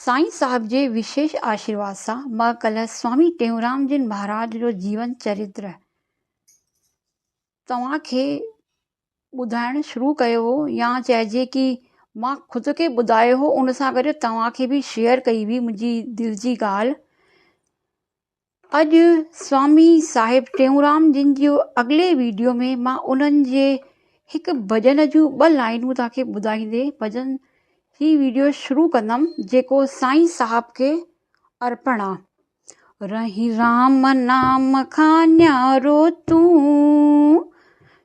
سائين صاحب جي وشيش آشيرواد سان مان ڪلهه سوامي ٽيئونرام جن مهاراج جو جيون چريتر توهان کي ٻڌائڻ شروع ڪيو هو يا چئجي ڪي مان خود کي ٻڌايو هو ان سان گڏ توهان کي به شيئر ڪئي هئي منهنجي دل جي ڳالهه اڄ سوامي صاحب ٽيئونرام جن جي اڳلي ويڊيو ۾ مان انهن جي هڪ ڀڄن جون ٻه لائينون توهان کي ٻڌائيندي ڀڄن هي ويڊيو شروع ڪندم جيڪو سائين صاحب کي ارپڻ آ رهين رام نام کان نيارو تون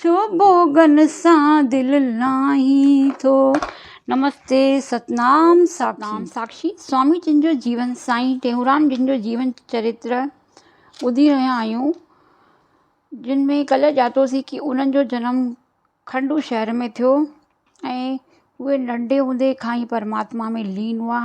ڇو ڀوڳن سان دل لاهين ٿو. نمستي ستنام ساکشي سوامي جن جو جيون سائين ٽيهونرام جن جو جيون چريتر ٻڌي رهيا آهيون جن ۾ ڪلهه ڄاتوسين ڪي انهن جو جنم کنڊو شهر ۾ ٿيو ۽ اهي ننڍي هوندي کان ئي پرماتما ۾ لين هئا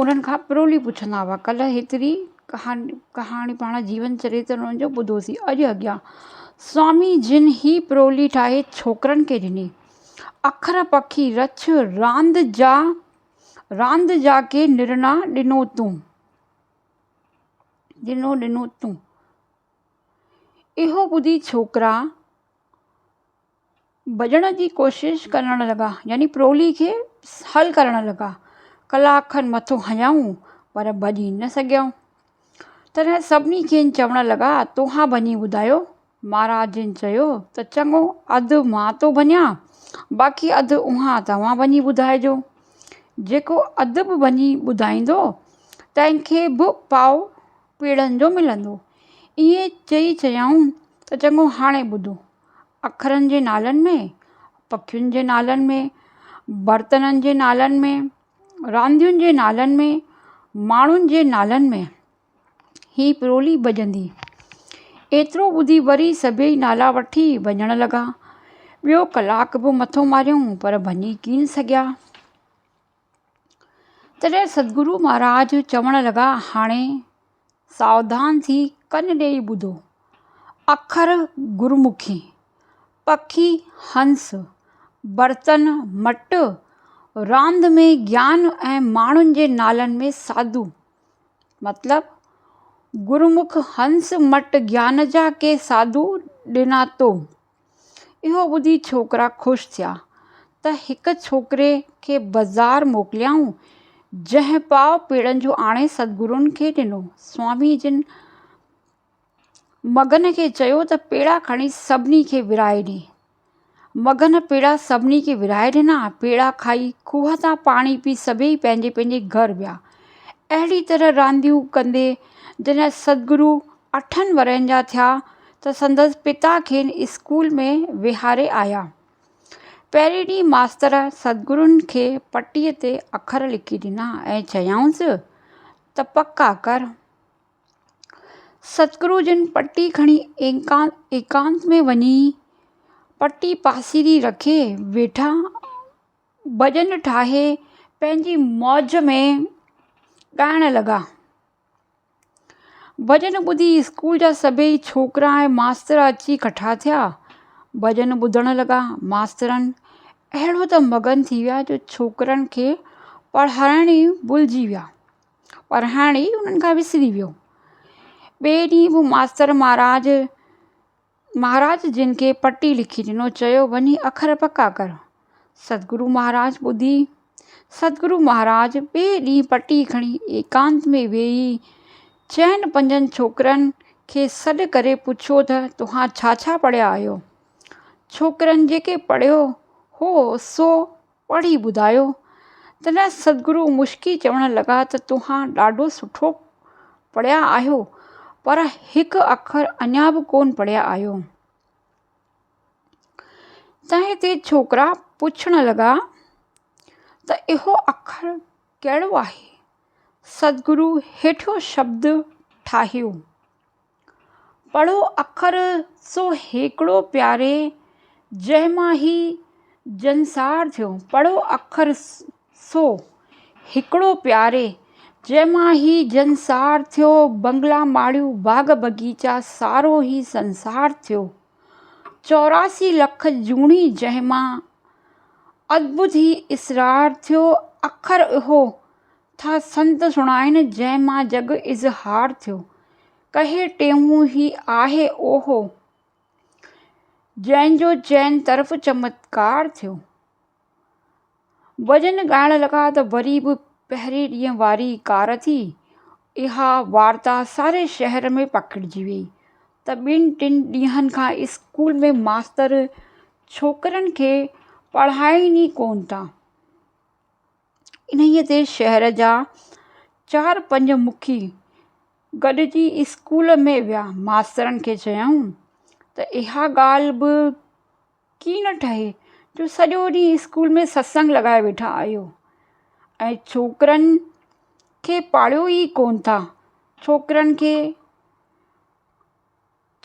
انهن کان پرولي پڇندا هئا. ڪلهه هيتري ڪهاڻي پاڻ جيون چريت انهن جو ٻڌوسين. اڄ اڳيان سوامي جن هي پرولي ٺاهي ڇوڪرن کي ڏني. اکر پکي رڇ راند جا راند جا ڪي نرڻا ڏنو تون. ڏنو ڏنو تون. اهو ٻڌي ڇوڪرا. ڀڄڻ جي ڪوشش ڪرڻ لڳا يعني پرولي کي حل ڪرڻ لڳا ڪلاڪ کن مٿو هنيائون پر ڀڄي نه سگهيائون تڏهن سڀني کين چوڻ لڳا توهان ڀڃي ٻڌايو مهاراج جن چيو ته چڱو اڌ مان ٿو ڀڃان باقي اڌ اوهان توهان ڀڃي ٻڌائجو جيڪو اڌ به ڀڃي ٻڌائيندو تنهن کي به پاء پيڙهن جو ملندو ائين چئي چيائون ته چڱو هاڻي ٻڌو اکرن جي نالن ۾، پکين جي نالن ۾، برتنن جي نالن ۾، راندين جي نالن ۾، ماڻهن جي نالن ۾، هي پرولي ڀڄندي. ايترو ٻڌي وري سڀيئي نالا وٺي ڀڄڻ لڳا. ٻيو ڪلاڪ به مٿو ماريائون پر ڀڃي ڪين سگهيا. تڏهن سدگرو مهاراج چوڻ لڳا هاڻي ساوڌان ٿي ڪن ڏيئي ٻڌو. اکر گرمکي، پکي هنس، برتن مٽ، راند ۾ گيان ۽ ماڻهن جي نالن ۾ ساڌو. مطلب، گرمک هنس مٽ گيان جا ڪي ساڌو ڏنا تو. اهو ٻڌي ڇوڪرا خوش ٿيا ته هڪ ڇوڪري کي بزار موڪليائون، جنهن پاء پيڙن جون آڻي سدگرون کي ڏنو. سوامي جن مگن کي چيو ته پيڙا کڻي سڀني کي ورهائي ڏي. مگن پيڙا سڀني کي ورهائي ڏنا. پيڙا کائي، کوهه تان پاڻي پي سڀيئي پنهنجي پنهنجي گهر ويا. اهڙي طرح رانديون ڪندي جڏهن سدگرو اٺن ورهين جا ٿيا ته سندس پتا کين اسڪول ۾ ويهاري آيا. پهرين ڏينهن ماستر سدگرن کي پٽيء تي اکر لکي ڏنا ۽ چيائونس ته پڪا ڪر. سدگرو جن پٽي کڻي ايڪانت ۾ وڃي پٽي پاسيري رکي ويٺا. ڀڄن ٺاهي پنهنجي موج ۾ ڳائڻ لڳا. ڀڄن ٻڌي اسڪول جا سڀيئي ڇوڪرا ۽ ماستر اچي ڪٺا ٿيا. ڀڄن ٻڌڻ لڳا. ماسترن اهڙو ته مگن ٿي ويا جو ڇوڪرن کي پڙهائڻ ئي ڀلجي ويا. پڙهائڻ ئي انهن کان وسري ويو. ٻئي ڏينهن به ماستر مهاراج مهاراج جن کي پٽي لکي ڏنو چيو وڃي اکر پڪا ڪر. سدگرو مهاراج ٻڌي. سدگرو مهاراج ٻئي ڏينهن پٽي کڻي ايڪانت ۾ ويهي چئن پنجن ڇوڪرن کي سڏ ڪري پڇيو ته توهان ڇا ڇا پڙهيا آهيو؟ ڇوڪرن جيڪي پڙهيو هو سو پڙهي ٻڌايو. تڏهن سدگرو مشڪي چوڻ لڳا ته توهان ڏاڍو سٺو پڙهيا آهيو پر هڪ اکر اڃا به ڪونه پڙهيا آهيو. تنهن تي ڇوڪرا پڇڻ لڳا ته اهو اکر ڪهڙو آهي؟ سدگرو هيٺيون شبد ٺاهيو. پڙهو اکر سو هيڪڙو پياري، جنهن مان هي جنسار ٿيو. پڙهو اکر سو هيڪڙو پياري، جنهن مان هي جنسار ٿيو. بنگلا ماڙيون باغ بغيچا، سارو هي سنسار ٿيو. چوراسي لک جوڻي جنهن مان، ادڀت هي اسرار ٿيو. اکر اهو ٿا سنڌ سڻائن جنهن مان جڳ اظهار ٿيو. ڪهي ٽيهون هي آهي اهو جنهن جو چئن طرف چمتڪار ٿيو. ڀڄن ڳائڻ لڳا ته وري به پهرين ڏينهن واري ڪار ٿي اها وارتا ساري شهر ۾ پکڙجي ويئي ته ٻن ٽن ڏينهن کان اسڪول ۾ ماستر ڇوڪرين کي پڙهائين ئي ڪونه ٿا. انهيء تي شهر جا چار پنج مکي گڏجي اسڪول ۾ ويا. ماسترن کي چيائون ته اها ڳالهه به ڪي نه ٺهي جو سڄو ڏينهن اسڪول ۾ ستسنگ لڳائي ويٺا آهيو ۽ ڇوڪرن کي پاڙهيو ئي ڪونه ٿا. ڇوڪرن کي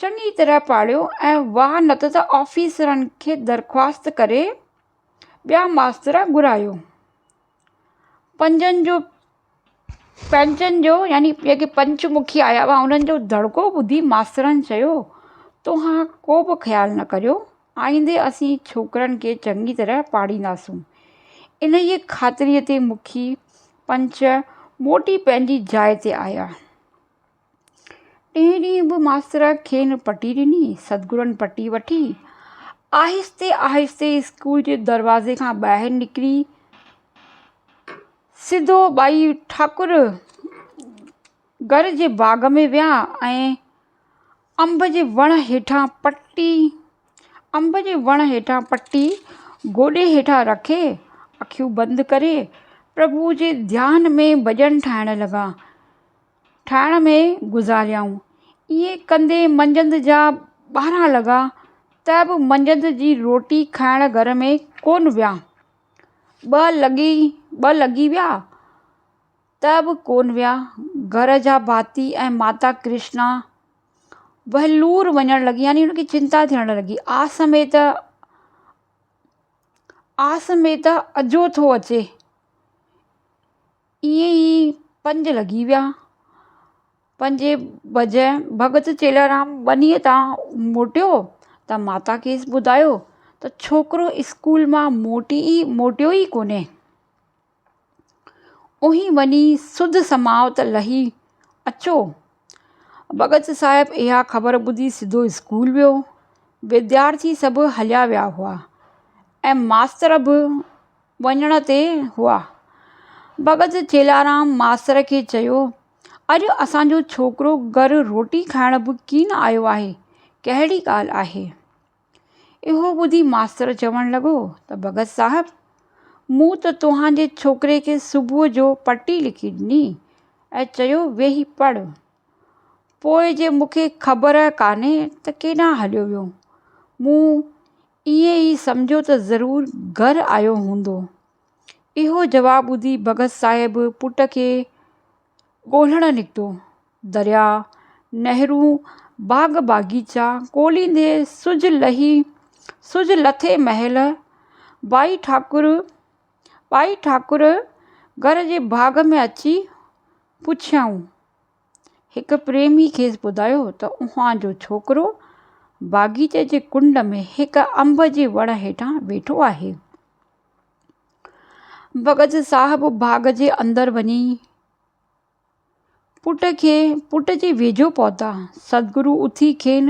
چڱي طرح پاڙهيو ۽ واهه نه ته آفيسرن کي درخواست ڪري ٻيا ماستر گهرايو. پنجن جو پنچن جو يعني جيڪي پنچ مکي آيا هئا انهن جو دڙڪو ٻڌي ماسترن چيو توهان ڪو به خيال نه ڪريو آئيندي اسين ڇوڪرن کي چڱي طرح پاڙهينداسون. انهيء خاطريء تي مکي پنچ موٽي پنهنجي جاء تي آيا. ٽئين ڏينهن به ماستر کين پٽي ڏني. سدگرن پٽي وٺي آهستي آهستي اسڪول جي دروازي کان ٻاهر نڪري سڌو ٻائي ٺاڪر گهر جي باغ ۾ ويا ۽ انب جي وڻ هيٺان پٽي انب جي وڻ هيٺان پٽي گوڏي هيٺان رکي اکيون بند ڪري پرڀوء جي ڌيان ۾ ڀڄن ٺاهڻ لڳا. ٺاهڻ ۾ گذاريائون. ائين ڪندي منجهند جا ٻارهن لڳا ته به منجهند جي روٽي کائڻ گهر ۾ ڪونه ويا. ٻه لڳي ٻه لڳي ويا ته به ڪونه ويا. گهر جا ڀاتي ۽ ماتا ڪرشنا وهلور وڃڻ لڳي يعني ان کي چنتا ٿيڻ لڳي. آس ۾ ته آس ۾ ته اجهو ٿو اچي. ائين ئي پنج لڳي ويا. پنجين بجي ڀڳت چيلارام ٻنيء تان موٽيو ته ماتا کيس ٻڌايو ته ڇوڪرو اسڪول مان موٽي ئي موٽيو ئي ڪونهي. اوهين وڃي سڌ سماوت لهي اچو. ڀڳت صاحب اها خبر ٻڌي سڌو اسڪول ويو. وديارٿي سڀ هليا ويا هئا ۽ ماستر به وڃڻ تي هئا. ڀڳت چيلارام ماستر کي چيو، اڄ اسان جو ڇوڪرو گهر روٽي کائڻ به ڪين آيو آهي، ڪهڙي ڳالهه آهي؟ اهو ٻڌي ماستر چوڻ لڳو ته ڀڳت صاحب، مون ته توهان جي ڇوڪري کي صبح جو پٽي لکي ڏني ۽ چيو ويهي پڙهه، پوء جي مون کي خبر ڪانهي ته ڪيڏانهن هليو ويو. مون ائين ئي سمجهو ته ضرور گهر آيو هوندو. اهو جواب ٻڌي ڀڳت صاحب پٽ کي ڳولهڻ نڪتو. درياء، نهرون، باغ باغيچا ڳولهيندي سج لهي سج لٿي مهل ٻائي ٺاڪر ٻائي ٺاڪر گهر جي باغ ۾ اچي پڇيائون. هڪ پريمي کيس ٻڌايو ته اوهان جو ڇوڪرو باغيچي جي ڪنڊ ۾ هڪ انب جي وڻ هيٺان ويٺو آهي. بگز صاحب باغ جي اندر وڃي پٽ کي پٽ جي ويجهو پهتا. سدگرو اٿي کين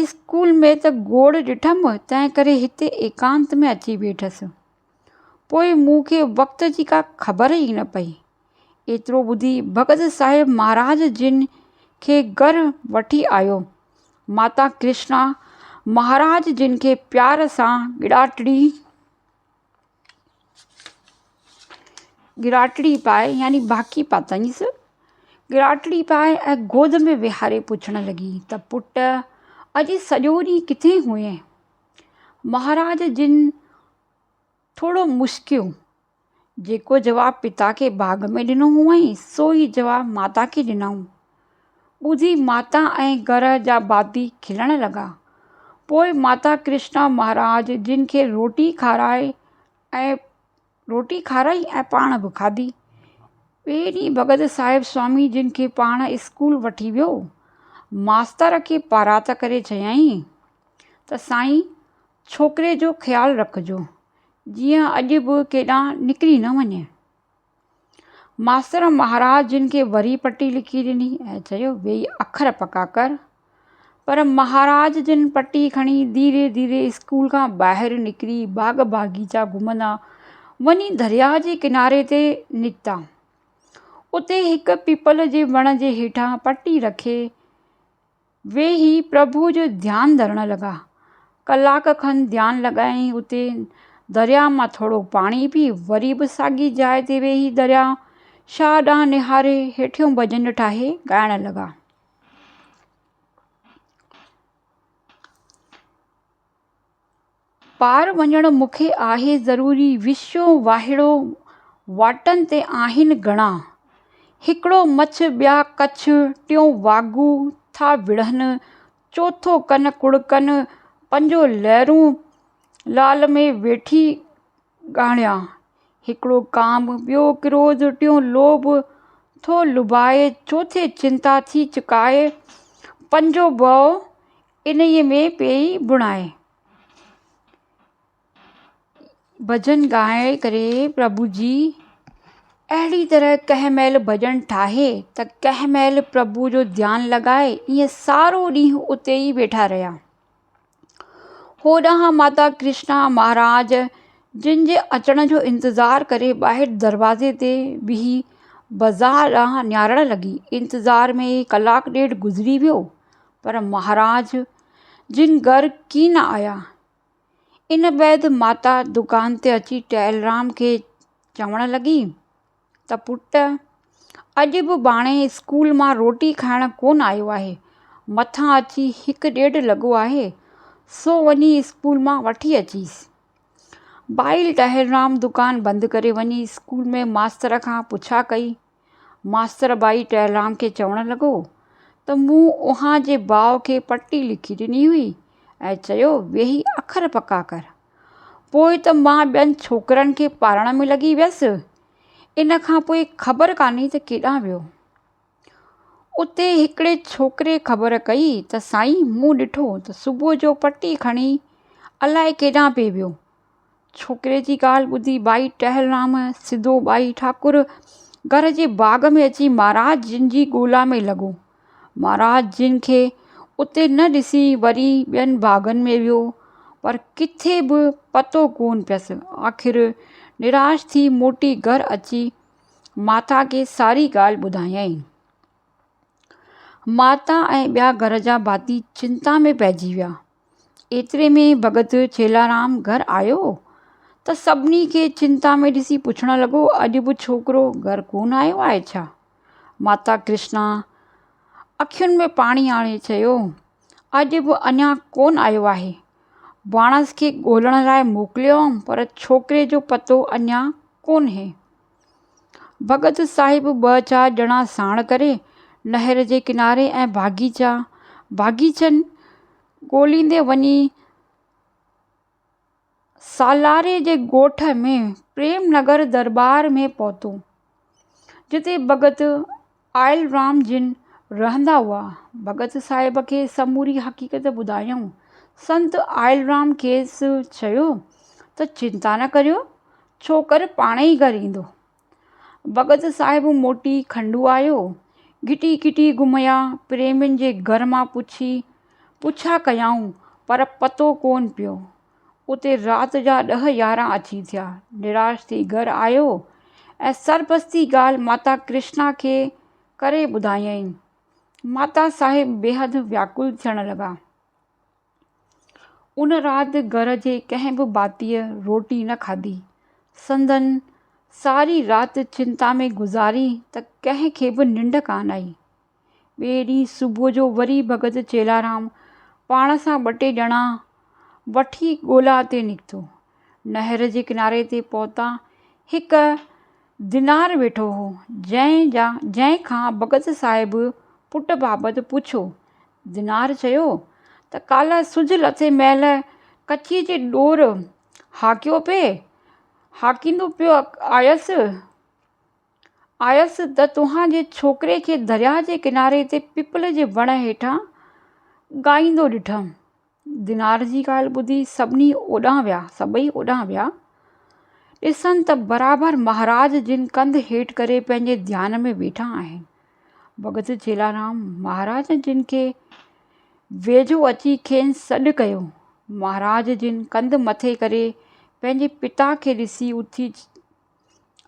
اسڪول ۾ ته گوڙ ڏٺم، تنهنڪري هتي ايڪانت ۾ اچي ويٺس. پوء مون کي وقت جي ڪا خبر ئي نه پئي. ايترو ٻڌي ڀڳت صاحب مهاراج جن کي گهر وٺي آيو. ماتا ڪرشنا مهاراج جن کي پيار سان ڳڙاٽڙي. ڳراٽڙي پائي يعني باڪي پاتائينس. ڳراٽڙي پائي ۽ گود ۾ ويهاري پڇڻ لڳي ته پٽ اڄ سڄو ڏينهن ڪٿي هئين؟ مهاراج جن ٿورو مسڪيو، جيڪو جواب پتا کي باغ ۾ ڏنو هئائين، سو ئي جواب ماتا کي ڏنائون. ٻڌي ماتا ۽ گهر جا ڀاتي کلڻ لڳا. پوء ماتا ڪرشنا مهاراج جن کي روٽي کارائي ۽ روٽي کارائي ۽ پاڻ به کاڌي. ٻئي ڏينهن ڀڳت صاحب سوامي جن کي پاڻ اسڪول وٺي ويو. ماستر کي پارات ڪري چيائين ته سائين ڇوڪري جو خيال رکجو جيئن اڄ به ڪيڏانهن نڪري نه وڃي. ماستر مهاراج جن کي وري پٽي لکي ڏني ۽ چيو ويهي اکر پڪا ڪر. پر مهاراج جن پٽي کڻي ڌيري ڌيري اسڪول کان ٻاهر نڪري باغ باغيچا گهمندا وڃي درياء جي ڪناري تي نڪتا. اتي هڪ پيپل جي وڻ جي هيٺان پٽي رکي ويهي پرڀوء جو ڌيان ڌرڻ لڳا. ڪلاڪ کن ڌيان لڳائي اتي درياهه مان ٿورو پاڻي پي وري به ساڳي جاء تي ويهي درياهه شاهه ڏانهن نهاري هيٺيون ڀڄن ٺاهي ڳائڻ لڳا. پار وڃڻ مون کي آهي ضروري. وشيو واهيڙو واٽن تي آهن گهڻا. هڪڙو مڇ ٻيا ڪڇ ٽيون واڳو ٿا وڙهن. چوٿو ڪن ڪڙڪن پنجو لهرون لال ۾ ويٺي ڳاڙهيان. هڪڙو ڪام ٻيو ڪروڌ ٽيون لوڀ ٿو لڀائي چوٿين چنتا ٿي چڪائي پنجو ڀؤ انهيء ۾ پيئي بڻائي. ڀڄن ڳائي ڪري پرڀو جي اهڙي طرح ڪنهن مهل ڀڄن ٺاهي ته ڪنهن مهل پرڀو جو ڌيان لڳائي ائين سارو ڏينهن اتي ئي ويٺا رهيا. هوڏانهن ماتا ڪرشنا مهاراج جن جي اچڻ جو انتظار ڪري ٻاهر دروازي تي بيهي بازار ڏانهن نهارڻ لڳي. انتظار ۾ ئي ڪلاڪ ڏيڍ گذري ويو. پر مھاراج جن گھر ڪي نه آيا. ان بعد ماتا دڪان تي اچي ٽهلرام کي چوڻ لڳي ته پٽ اڄ به ڀاڻي اسڪول مان روٽي کائڻ ڪونه آيو آهي. مٿان اچي هڪ ڏيڍ لڳو آهي سو وڃي اسڪول مان وٺي اچيس. ڀائيل ٽهلرام دڪان بند ڪري وڃي اسڪول ۾ ماستر کان پڇا ڪئي. ماستر ٻائي ٽهلام کي چوڻ لڳو ته مون اوهان جي ڀاء کي پٽي لکي ڏني هئي ۽ چيو ويهي اکر پڪا ڪر. پوء ته مان ٻين ڇوڪرن کي پالڻ ۾ لڳي ويس. ان کان پوء خبر ڪانهي ته ڪيڏانهن ويو. اتي هڪڙي ڇوڪري خبر ڪئي ته سائين مون ڏٺو ته صبح جو پٽي کڻي الائي ڪيڏانهن پئي ويو. ڇوڪري جي ڳالهه ٻڌي ٻائي ٽهلرام سڌو ٻائي ٺاڪر گهر جي باغ ۾ اچي مهاراج جن جي ڳولا ۾ لڳو. مهاراج جن کي اتي نه ڏسي وري ٻين باغن ۾ ويو پر ڪٿي به پتو ڪونه پيس. آخر نراش ٿي موٽي گهر اچي ماتا کي ساري ڳالهه ٻڌايائين. ماتا ۽ ٻيا گهر جا ڀاتي چنتا ۾ پئجي ويا. ايتري ۾ ڀڳت ڇيلارام گهر آيو ته سڀني کي چنتا ۾ ڏسي پڇڻ لڳو اڄ به ڇوڪرو گهر ڪونه آيو آهي ڇا؟ ماتا ڪرشنا اکين ۾ پاڻي آڻي چيو اڄ به اڃا ڪونه آيو آهي. ڀاڻس کي ڳولڻ لاء موڪليو هئم پر ڇوڪري جو پتو اڃا ڪونه. ڀڳت صاحب ٻه چار ڄڻا ساڻ ڪري نهر جي ڪناري ۽ باغيچا باغيچن ڳوليندي وڃي سالاري جي ڳوٺ ۾ پريم نگر درٻار ۾ پهتو جتي ڀڳت آيل رام جن رهندا هئا. ڀڳت صاحب کي سموري حقيقت ٻڌايائون. سنت آيل رام کيس چيو ته چنتا نه ڪريو، ڇوڪر پاڻ ئي گهر ايندو. ڀڳت صاحب موٽي کنڊو آيو. گهٽي گهٽي گهميا، پريمين جي گهر مان پڇي پڇا ڪيائون پر پتو ڪونه پيو. اتي رات جا ڏهه يارهن اچي ٿيا. نراش ٿي گهر آيو ۽ سربستي ڳالهه ماتا ڪرشنا کي ڪري ٻڌايائين. ماتا صاحب بيحد وياڪل ٿيڻ لڳا. ان رات گهر جي ڪنهن به ڀاتيء روٽي نه کاڌي. سندن ساري رات چنتا ۾ گذاري ته ڪنهن کي به ننڊ ڪانه آئي. ٻئي ڏينهن صبح جو وري ڀڳت چيلارام پاڻ سان ٻه ٽي ڄڻا وٺي ڳولا تي نڪتو. نهر جي ڪناري تي پهتا. هڪ دينار ويٺو هو، جنهن جا جنهن کان ڀڳت صاحب پٽ بابت پڇيو. دينار چيو ته ڪالهه سج لٿي مهل ڪچيء جي ڏور هاڪيو پئي، هاڪيندو پيو آيس. آيس ته توهان جي ڇوڪري کي درياهه جي ڪناري تي پيپل جي وڻ هيٺان ڳائيندو ڏٺم. دينار جي ڳالهه ٻڌي سڀني اوڏانهن ويا، سڀئي اوڏانهن ويا. ڏسن ته برابر مهاراج جن ڪنڌ هيٺ ڪري پنهنجي ڌيان ۾ ويٺا آهن. ڀڳت چيلارام مهاراج جن کي ويجهو اچي کين سڏ ڪيو. مهاراج جن ڪنڌ مٿي ڪري پنهنجي پتا کي ڏسي اٿي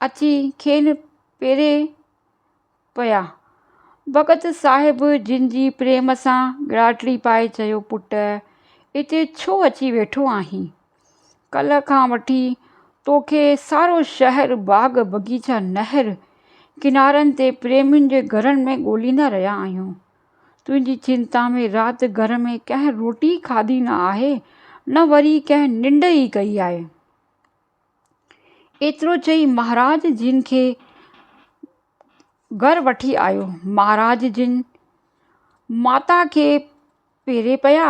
اچي کين پيري پيا. ڀڳت صاحب جن جي پريم سان ڳراٽڙي پائي چيو، پٽ اتي ڇو اچي ويٺو آهين؟ ڪلهه کان وٺي توکي سارو شهر، باغ بغيچا، نهر ڪنارن تي پريمين جي گهرن ۾ ڳوليندا رهيا آهيون. تنهنجي چنتا ۾ رات گهر ۾ ڪنهن روٽي کاڌي نه آهي نه وري ڪنهن ننڊ ئي ڪئي آهي. ايترو چئي مهاراج جن کي گهر وٺي آيو. مهاراج جن ماتا کي پيري پيا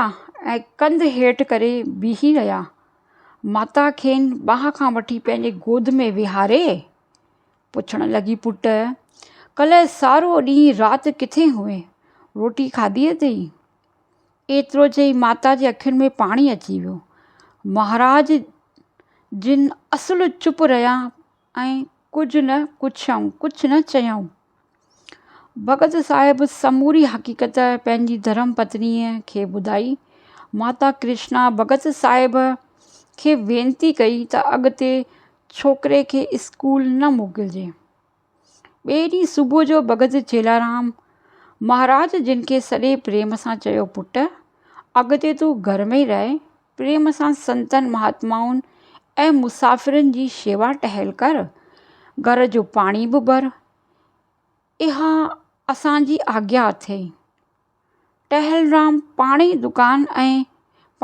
۽ ڪنڌ هيٺ ڪري بيهي رهيا. ماتا کين ٻانهن کان وٺي پنهنجي گود ۾ ويهاري پڇڻ لڳي پٽ! ڪلهه سارو ڏينهن رات ڪٿي هئين؟ روٽي کاڌي اٿئي؟ ايترو چئي ماتا جي اکين ۾ پاڻي اچي ويو. مهاراج جن اصل چپ رهيا ۽ ڪجهه نه پڇيائون، ڪجهه نه چيائون. ڀڳت صاحب سموري حقيقت پنهنجي ڌرم پتنيء کي ٻڌائي. ماتا ڪرشنا ڀڳت صاحب کي وينتي ڪئي ته اڳتي ڇوڪري کي اسڪول نه موڪلجي. ٻئي ڏينهن صبح جو بگز چيلارام مهاراج جن کي سڏي پريم سان چيو، پٽ! اڳتي تون گهر ۾ ئي رهه، پريم سان سنتن مهاتمائن ۽ مسافرن جي شيوا ٽهل ڪر، گهر جو پاڻي به ڀر، اها اسان جي آگيا اٿئي. ٽهلرام پاڻهي دڪان ۽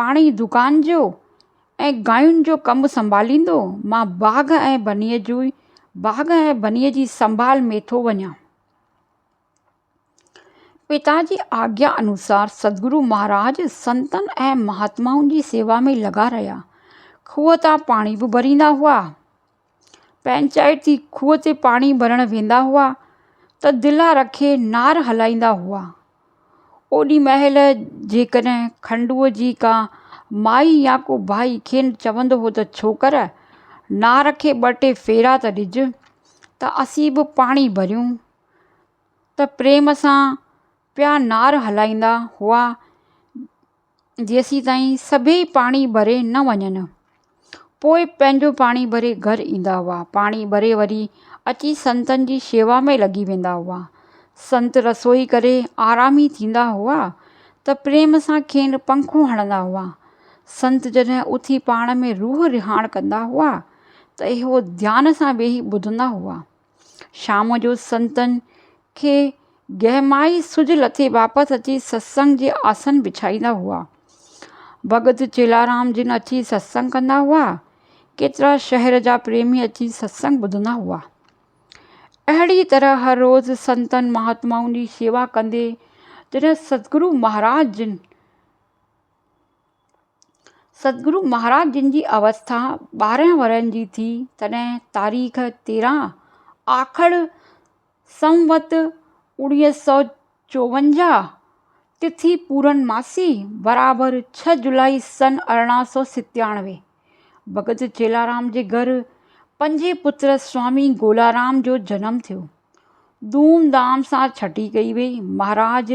پاڻهي دڪان جو ۽ گاين جو ڪم سنڀاليندو مان باغ ۽ بنيء جو باغ ۽ بنيء جي سنڀال ۾ ٿو وڃان. پتا جي آگيا انوسار سدگرو مهاراج سنتن ۽ مهاتمائن جي سيوا ۾ لڳا رهيا. کوهه تان پاڻي به ڀريندا هئا. پنهنجائي ٿي کوهه تي پاڻي ڀرڻ ويندا هئا ته دلا رکي نار هلائيندا هئا اوڏي مهل جيڪڏهن کنڊوء جي ڪا مائي يا ڪو ڀائي کين چوندو هو ته ڇوڪر نار کي ٻه ٽي ڦيرا ته ڏج ته اسين به پاڻي ڀريون ته پريم سان پيا نار هلائيندا هئا جيسين تائين سڀيئي پاڻي ڀري نه وڃن پوء پنهنجو پاڻي ڀري گهر ايندا هئا پاڻي ڀري وري اچي سنتن جي شيوا ۾ لڳي ويندا هئا سنت رسوئي ڪري آرامي ٿيندا هئا ته پريم سان کين پنکون هڻندا هئا سنت جڏهن اٿي پاڻ ۾ روح رهاڻ ڪندا هئا ته اهو ڌيان سان ويهي ٻڌندا هئا شام جو سنتن کي گهمائي سج لٿي واپس اچي ستسنگ جي آسن بڇائيندا هئا. ڀڳت چيلارام جن اچي ستسنگ ڪندا هئا. ڪيترا شهر جا پريمي اچي ستسنگ ٻڌندا هئا. اهڙي طرح هر روز سنتن مهاتمائن جي شيوا ڪندي جڏهن سدگرو مهاراج جن سدگرو مهاراج جن جي اوستا ٻارهن ورهين جي ٿي تڏهن تاريخ تيرهن آکڙ سنوت اوڻيهه سؤ چوونجاهه تٿي پورنماسي برابر ڇهه جولائي سن ارڙهن سؤ ستيانوي ڀڳت چيلارام جي گهر پنجين پٽ سوامي گولارام جو جنم ٿيو ڌوم ڌام سان ڇٽي ڪئي وئي مهاراج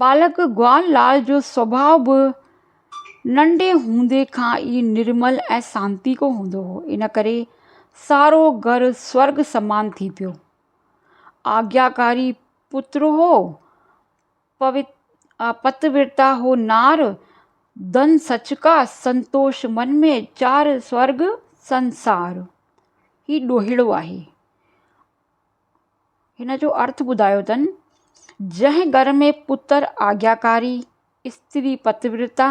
ٻالڪ گوال لال جو سڀاء به ننڍي هوندي کان ئي نرمل ۽ سانتيڪو هوندو هو. ان ڪري سارو گهر سورڳ سمان ٿي پيو. آگياڪاري پتر هو، پتويرتا هو نار، ڌن سچڪا، سنتوش من ۾، چار سورڳ سنسار. هي ڏوهيڙو آهي. هن جو ارٿ ٻڌايو اٿن، جنهن گهر ۾ پتر آجياڪاري، استري پتيورتا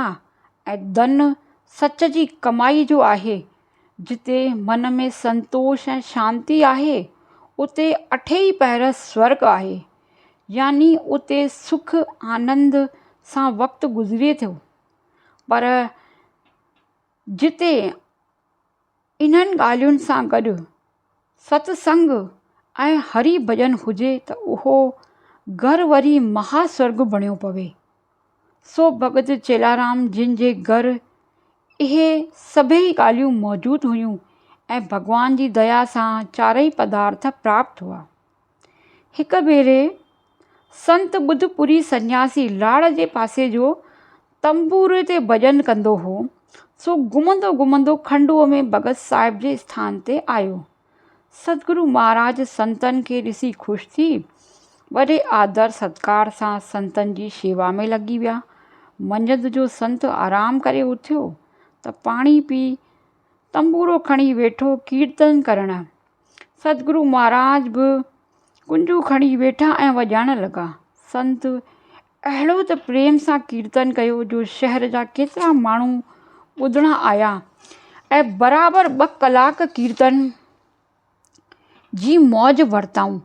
۽ ڌن سچ جي ڪمائي جو آهي، جتي من ۾ سنتوش ۽ شانتي آهي، اتي اٺي ئي پهر سورڳ آهي، يعني اتي سک آنند سان وقت گذري ٿو. پر جتي انهن ڳالهين سان گڏ ستسنگ ۽ هري ڀڄن هجي ته اهو گهر وري مها سورڳ بڻيو پوي. سو ڀڳت چيلارام جن جي گهر اهي سڀيئي ڳالهيون موجود هيون ۽ ڀڳوان جي ديا سان چارئي پدارٿ پراپت هئا. هڪ ڀيري سنت ٻڌ پوري سنياسي لاڙ جي پاسي جو تنبوري تي ڀڄن ڪندو هو، سو گهمندو گهمندو کنڊوء ۾ ڀڳت صاحب جي اسٿان تي آيو. سدگرو مهاراج سنتن کي ڏسي خوش ٿي، وڏي آدر ستڪار سان سنتن جي شيوا ۾ لڳي ويا. منجهند جو سنت آرام ڪري اٿيو ته پاڻي پي، تنبورو کڻي ويٺو ڪيرتن ڪرڻ. سدگرو مھاراج به ڪنجون کڻي ويٺا ۽ وڄائڻ لڳا. سنت اھڙو ته پريم سان ڪيرتن ڪيو جو شھر جا ڪيترا ماڻھو ٻڌڻ آيا ۽ برابر ٻه ڪلاڪ ڪيرتن جي موج ورتائون.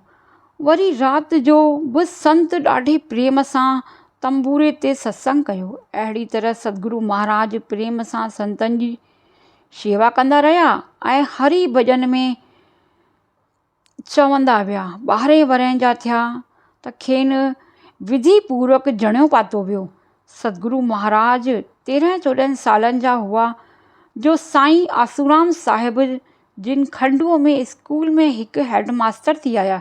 وري رات جو به سنت ڏاڍي پريم سان تنبوري تي ستسنگ ڪيو. اھڙي طرح سدگرو مھاراج پريم سان سنتن جي شيوا ڪندا رهيا ۽ هري ڀڄن ۾ چوندا ويا. ٻارهين ورهين جا ٿيا ته کين وڌي پورڪ جڻيو پاتو ويو. سدگرو مهاراج تيرهن چوڏهن سالن جا هئا جو سائين آسورام صاحب جن کنڊوء ۾ اسڪول ۾ هڪ هيڊ ماستر ٿي آيا.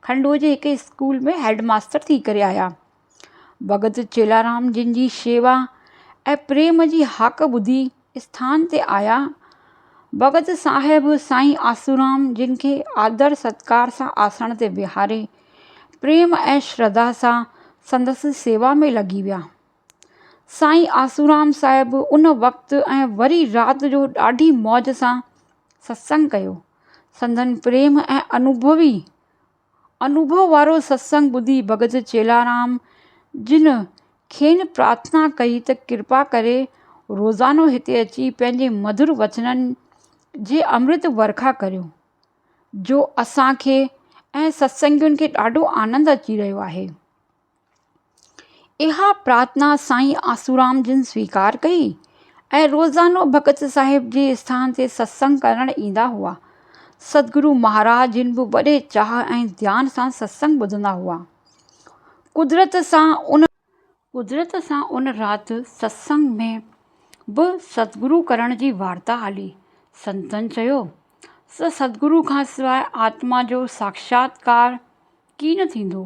کنڊوء جي هڪ اسڪول ۾ هيڊ ماستر ٿي ڪري آيا. ڀڳت چيلارام جن جي شيوا ۽ پريم جي هاڪ ٻڌي اسٿان تي آيا. ڀڳت صاحب سائين آسورام جن کي آدر ستڪار سان آسڻ تي ويهاري پريم ۽ شرڌا سان سندس سيوا ۾ لڳي ويا. سائين آسورام صاحب ان وقت ۽ وري رات جو ڏاڍي موج سان ستسنگ ڪيو. سندن پريم ۽ انوڀوي انوڀو وارو ستسنگ ٻڌي ڀڳت چيلارام جن کين پرارٿنا ڪئي ته ڪرپا ڪري روزانو هتي اچي پنهنجي مڌر وچنن جي امرت ورکا ڪريو جو اسان کي ۽ ستسنگين کي ڏاڍو آنند اچي رهيو آهي. اها پرارٿنا سائين آسورام جن سويڪار ڪئي ۽ روزانو ڀڳت صاحب جي اسٿان تي ستسنگ ڪرڻ ايندا هئا. سدگرو مهاراج جن به وڏي چاهه ۽ ڌيان سان ستسنگ ٻڌندا هئا. قدرت سان ان. قدرت سان ان رات ستسنگ ۾ به سدگرو ڪرڻ جي وارتا هلي. سنتن چيو ته سدگرو کانسواء آتما جو ساکشاتڪار ڪين ٿيندو.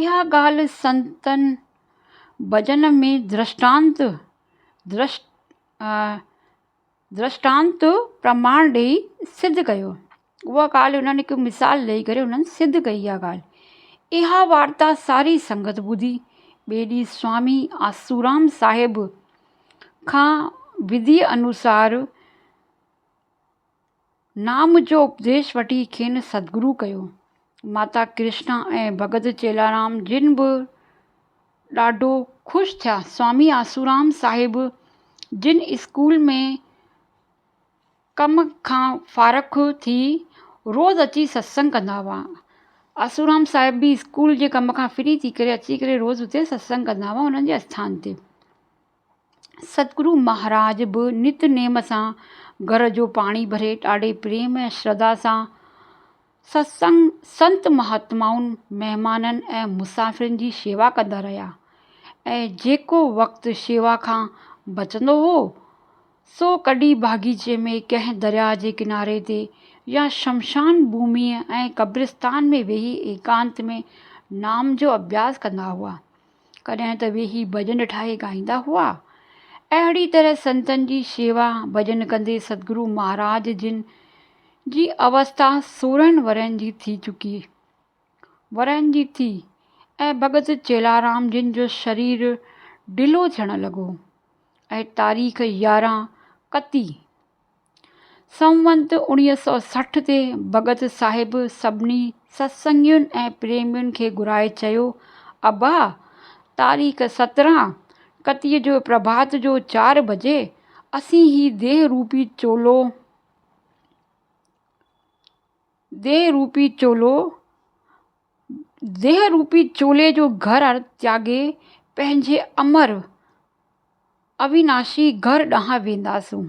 اها ڳالهه سنتن ڀڄن ۾ درشٽانت، Drishtant، پرماڻ ڏئي سڌ ڪيو. اها ڳالهه انهن هڪ مثال ڏئي ڪري انهن سڌ ڪئي اها ڳالهه. اها وارتا ساري سنگت ٻڌي. ٻئي ڏينهن سوامي آسورام صاحب کان وڌيء انوسار نام جو اپديش وٺي کين سدگرو ڪيو. ماتا ڪرشنا ۽ ڀڳت چيلارام جن به ڏاڍو خوش ٿيا. سوامي آسورام صاحب جن اسڪول ۾ ڪم کان فارغ ٿي روز اچي ستسنگ ڪندا هئا. آسورام صاحب به اسڪول جي ڪم کان فري ٿي ڪري اچي ڪري روز اتي ستسنگ ڪندا هئا انهن جي آستان تي. ستگرو مهاراج به نت نيم سان گهر جو پاڻي ڀري ڏاڍي پريم ۽ شرڌا سان ستسنگ، سنت مهاتمائن، مهمانن ۽ مسافرن جي شيوا ڪندا رهيا ۽ جيڪو وقت شيوا کان بچندو هو سو ڪڏهن باغيچي ۾ ڪنهن درياء جي ڪناري تي يا شمشان ڀوميء ۽ قبرستان ۾ ويهي ايڪانت ۾ نام جو اڀياس ڪندا هئا. ڪڏهن ته ويهي ڀڄن ٺاهي ڳائيندا هئا. اهڙي طرح سنتن جي شيوا ڀڄن ڪندي ستگرو مهاراج جن جي اوستا سورهن ورهين جي ٿي چڪي ورهين جي ٿي ۽ ڀڳت چيلارام جن جو شرير ڍلو ٿيڻ لڳو ۽ تاريخ يارهن ڪتي سنوت اوڻيهه سؤ سٺ تي ڀڳت صاحب سڀني ستسنگين ۽ پريمين کي گهرائي چيو، ابا! تاريخ سترهن ڪتيء جو پرڀات جو چار بجي اسين هي ديهه روپي چولو، ديهه روپي چولو ديهه روپي چولي جو گهر تياڳي پنهنجي امر اويناشي گهر ڏانهن وينداسون.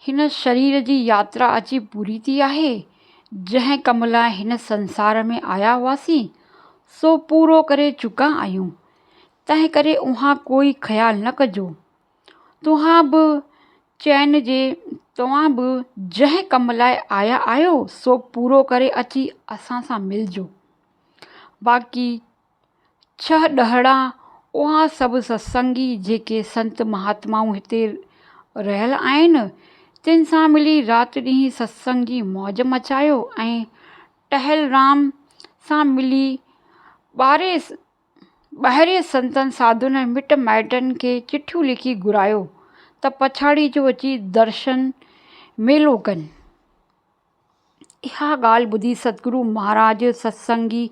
هن شرير جي ياترا اچي پوري ٿي آهي. جنهن ڪم لاء هن سنسار ۾ آيا هئاسين، سو پورو ڪري چڪا آهيون. تنهنڪري اوهان ڪوئي خيال نه ڪجو. توهان به چين جي توهان به جنهن ڪم لاء آيا آهيو سو پورو ڪري اچي اسان سان ملجو باقي ڇهه ڏهڙا اوهان سڀ ستسنگي جيڪي سنت مهاتمائون هتي رهيل آهن تن سان ملي رات ڏينهن ستسنگ جي موج مچايو ۽ ٽهل رام سان ملي ٻاري ٻاهرين سنتن ساڌوئن ۽ مٽ مائٽن کي چٺيون لکي گهرايو ته پڇاڙي جو اچي درشن ميلو ڪن. اها ڳالهه ٻڌي ستگرو مهاراج، ستسنگي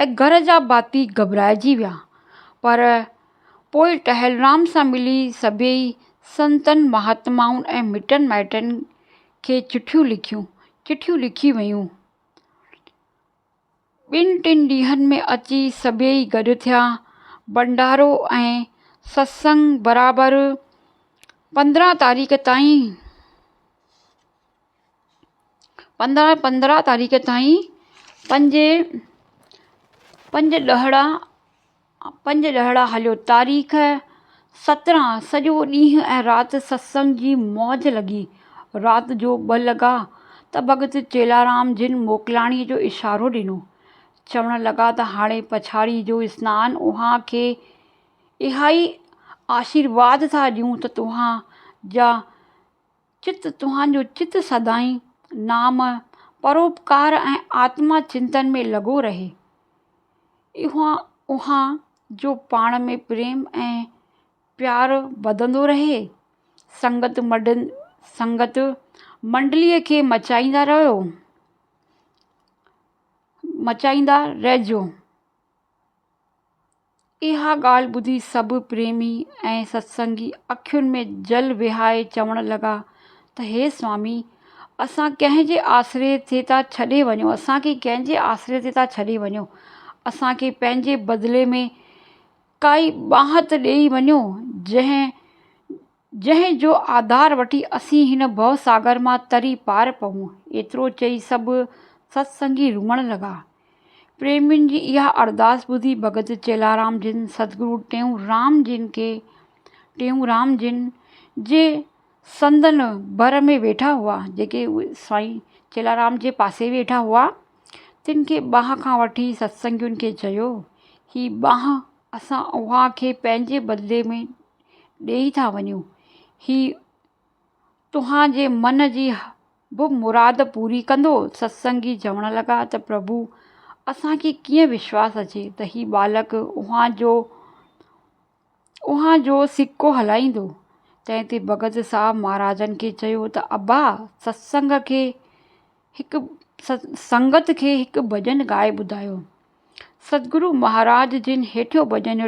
۽ گهر جا ڀاتي گهٻرائجي ويا. پر پوء ٽهلرام سان ملي سڀيئي سنتن، مهاتمائن ۽ مٽن مائٽن کي چٺيون لکيون. چٺيون لکي ويون. ٻن ٽن ڏينهن ۾ اچي سڀيئي گڏ ٿيا. ڀنڊارو ۽ ستسنگ برابر پندرهن تاريخ تائين پندرهن پندرهن تاريخ تائين پنج پنج ڏهڙا پنج ڏهاڙا هليو تاريخ سترهن سڄو ڏينهن ۽ رات ستسنگ جي موج لڳي. رات جو ٻه لڳا ته ڀڳت چيلارام جن موڪلاڻي جو اشارو ڏنو. چوڻ لڳا ته هاڻي پڇاڙي جو سنان اوهان کي اهائي آشيرواد ٿا ڏيون ته توهان جا چت توهانجو چت سدائين نام، پروپڪار ۽ آتما چنتن ۾ لڳو رهي. اوهان جو پاڻ ۾ پريم ۽ پيار وڌندو رهي. سنگت سنگت منڊليء کي مچائيندا رهيو مچائيندا رهجو. اها ڳالهه ٻڌي سڀ پريمي ۽ ستسنگي اکين ۾ جل وهائي چوڻ لڳا ته هي سوامي! اسان ڪنهن جي آسري تي ٿا ڇڏي وڃون، اسان کي ڪنهن جي آسري تي ٿا ڇڏي وڃون، اسان کي پنهنجي بدلي ۾ ڪائي ٻانهت ڏيئي وڃو، جنهن جنهن جو آڌار وٺي اسين هن ڀؤ ساگر مان تري پار پئون. ايترو چئي سڀ ست سنگي روئڻ لڳا. پريمين جي اها ارداس ٻڌي ڀڳت چيلارام جن سدگرو ٽيئون رام جن کي ٽيئون رام جن جي سندن ڀر ۾ ويٺا هئا جيڪي سائين چيلارام جي پاسي ويٺا هئا تن کي ٻانهن کان وٺي ستسنگين کي چيو هي ٻانهن اسان اوهان کي پنهنجي بدلي ۾ ڏيئي ٿا وڃون هي توهان جي من جي به مراد پوري ڪندو ستسنگي چوڻ لڳا ته پرڀو اسان کي ڪيئن وشواس اچي ته هي ٻالڪ اوهان جو اوهان جو سڪو هلائيندو تنهن تي ڀڳت صاحب مهاراجن کي چيو ته ابا ستسنگ کي هڪ سنگت کي هڪ ڀڄن ڳائي ٻڌايو ستگرو مهاراج جن هيٺيون ڀڄن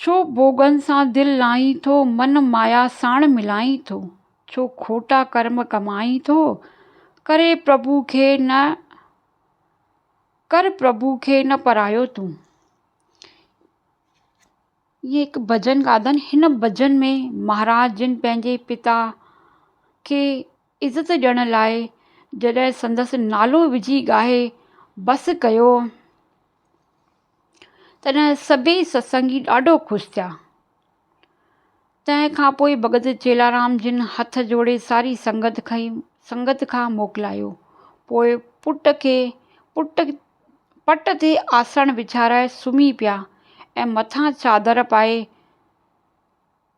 ڇو ڀوڳن سان دل لائين ٿو، من مايا ساڻ ملائين ٿو، ڇو کوٽا ڪرم ڪمائين ٿو، ڪري پرڀو کي نه ڪر پرڀو کي نه پرايو تون. ائين هڪ ڀڄن ڳاڌن هن ڀڄن ۾ مهاراج جن پنهنجي پتا کي عزت ڏيڻ لاء جڏهن سندس نالو وجهي ڳاهي بس ڪيو تڏهن سڀئي ستسنگي ڏاڍو خوش ٿيا. تنهن کان پوء ڀڳت چيلارام جن هٿ جوڙي ساري سنگت کي سنگت کان موڪلايو. پوء پٽ کي پٽ پٽ تي آسڻ وڇارائي سمهي پيا ۽ مٿان چادر پائي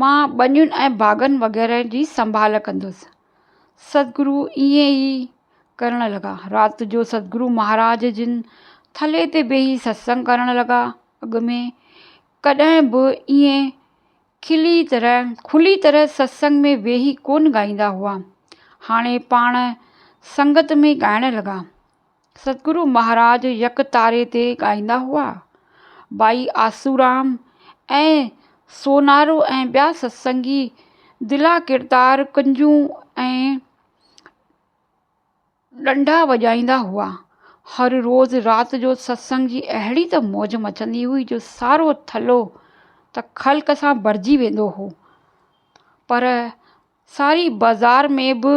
مان ٻنين ۽ باغن وغيره جي سنڀال ڪندس ستگرو ائين ئي ڪرڻ لڳا رات جو ستگرو مهاراج جن ٿلهي تي ويهي ستسنگ ڪرڻ لڳا اڳ ۾ ڪڏهن به ائين کلي طرح کلي طرح ستسنگ ۾ ويهي ڪونه ڳائيندا هئا هاڻي پاڻ سنگت ۾ ڳائڻ لڳا ستگرو مهاراج يڪ تاري تي ڳائيندا هئا. ٻائي آسورام ۽ سونارو ۽ ٻيا ستسنگي دلا ڪردار ڪنجون ۽ ڏنڊا وڄائيندا هئا. هر روز رات جو ستسنگ جي اهڙي ته موج مچندي هئي جو سارو ٿلهو ته خلق سان ڀرجي ويندو هو پر ساري بازار ۾ به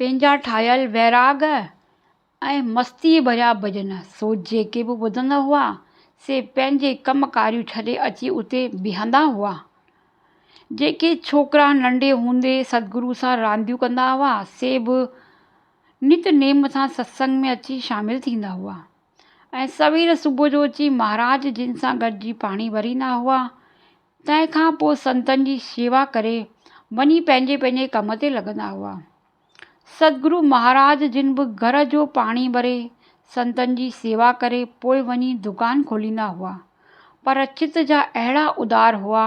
پنهنجا ٺاهيل ويراڳ ۽ مستيء ڀريا ڀڄن سو جيڪي به ٻڌندا هئا سي پنهنجي ڪم ڪاريون ڇڏي اچي اتي بيهندا هئا. جيڪي ڇوڪرا ننڍي هوندي سدگرو سان رانديون ڪندا هئا سي به نت نيم سان ستسنگ ۾ اچي شامل ٿيندا هئا ۽ سوير صبح جو اچي مهاراج جن سان گڏجي پاڻي ڀريندا هئا. تنهن کان پوء سنتن جي شيوا ڪري وڃي پنهنجي پنهنجي ڪم تي لڳندا هئا. ستگرو مهاراج جن به گهر جو پاڻي ڀري، سنتن جي شيوا ڪري پوء وڃي دڪان کوليندا هئا. پر چت جا اهڙا ادار هئا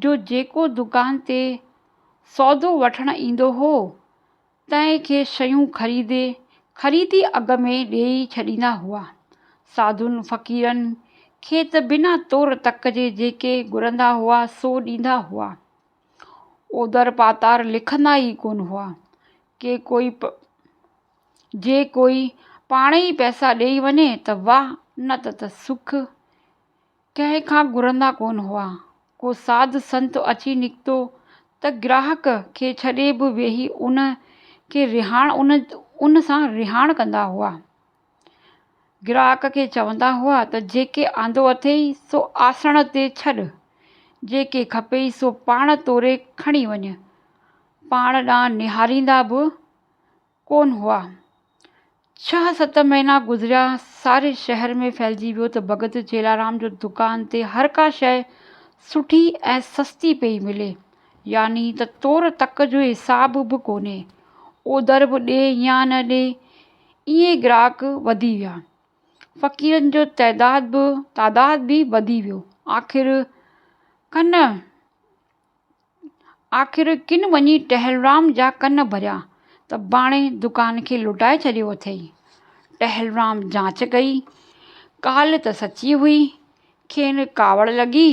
جو جيڪو دڪان تي سودو وٺڻ ايندو هو، تنهن کي شيون خريدي خريدي اگهه ۾ ڏيئي ڇڏيندا هئا. ساڌوئن فقيرن کي ته بنا تور تڪ جي جيڪي گهرندا هئا سو ڏيندا هئا. اوڌر پاتار لکندا ئي ڪونه هئا. ڪي ڪوئي جي ڪوئي پاڻ ئي پئسا ڏيئي وڃي ته واهه نه ته سک. ڪنهن کان گهرندا ڪونه هئا. ڪو ساڌ سنت اچي نڪتو ته گراهڪ کي ڇڏي به ويهي ان کي رهاڻ ان سان رهاڻ ڪندا هئا. گراهڪ کي چوندا هئا ته جيڪي آندو اٿئي سو آسڻ تي ڇڏ، جيڪي کپئي سو پاڻ توري کڻي وڃ. پاڻ ڏانهن نهاريندا به ڪونه هئا. ڇهه ست مهينا گذريا، ساري شهر ۾ ڦهلجي ويو ته ڀڳت جيلارام جو دڪان تي هر ڪا شيء سٺي ۽ سستي پئي ملي، يعني ته تور تڪ جو حساب به ڪونهي، اوڌر به ڏي يا نه ڏي، ائين گراهڪ وڌي ويا. فقيرن جو تعداد به تعداد به وڌي ويو. آخر ڪن آخر ڪن وڃي ٽهلرام جا ڪن ڀريا ته ڀاڻي دڪان کي لٽائي ڇڏيو اٿئي. ٽهلرام جاچ ڪئي، ڪالهه ته سچي هئي، کين ڪاوڙ لڳي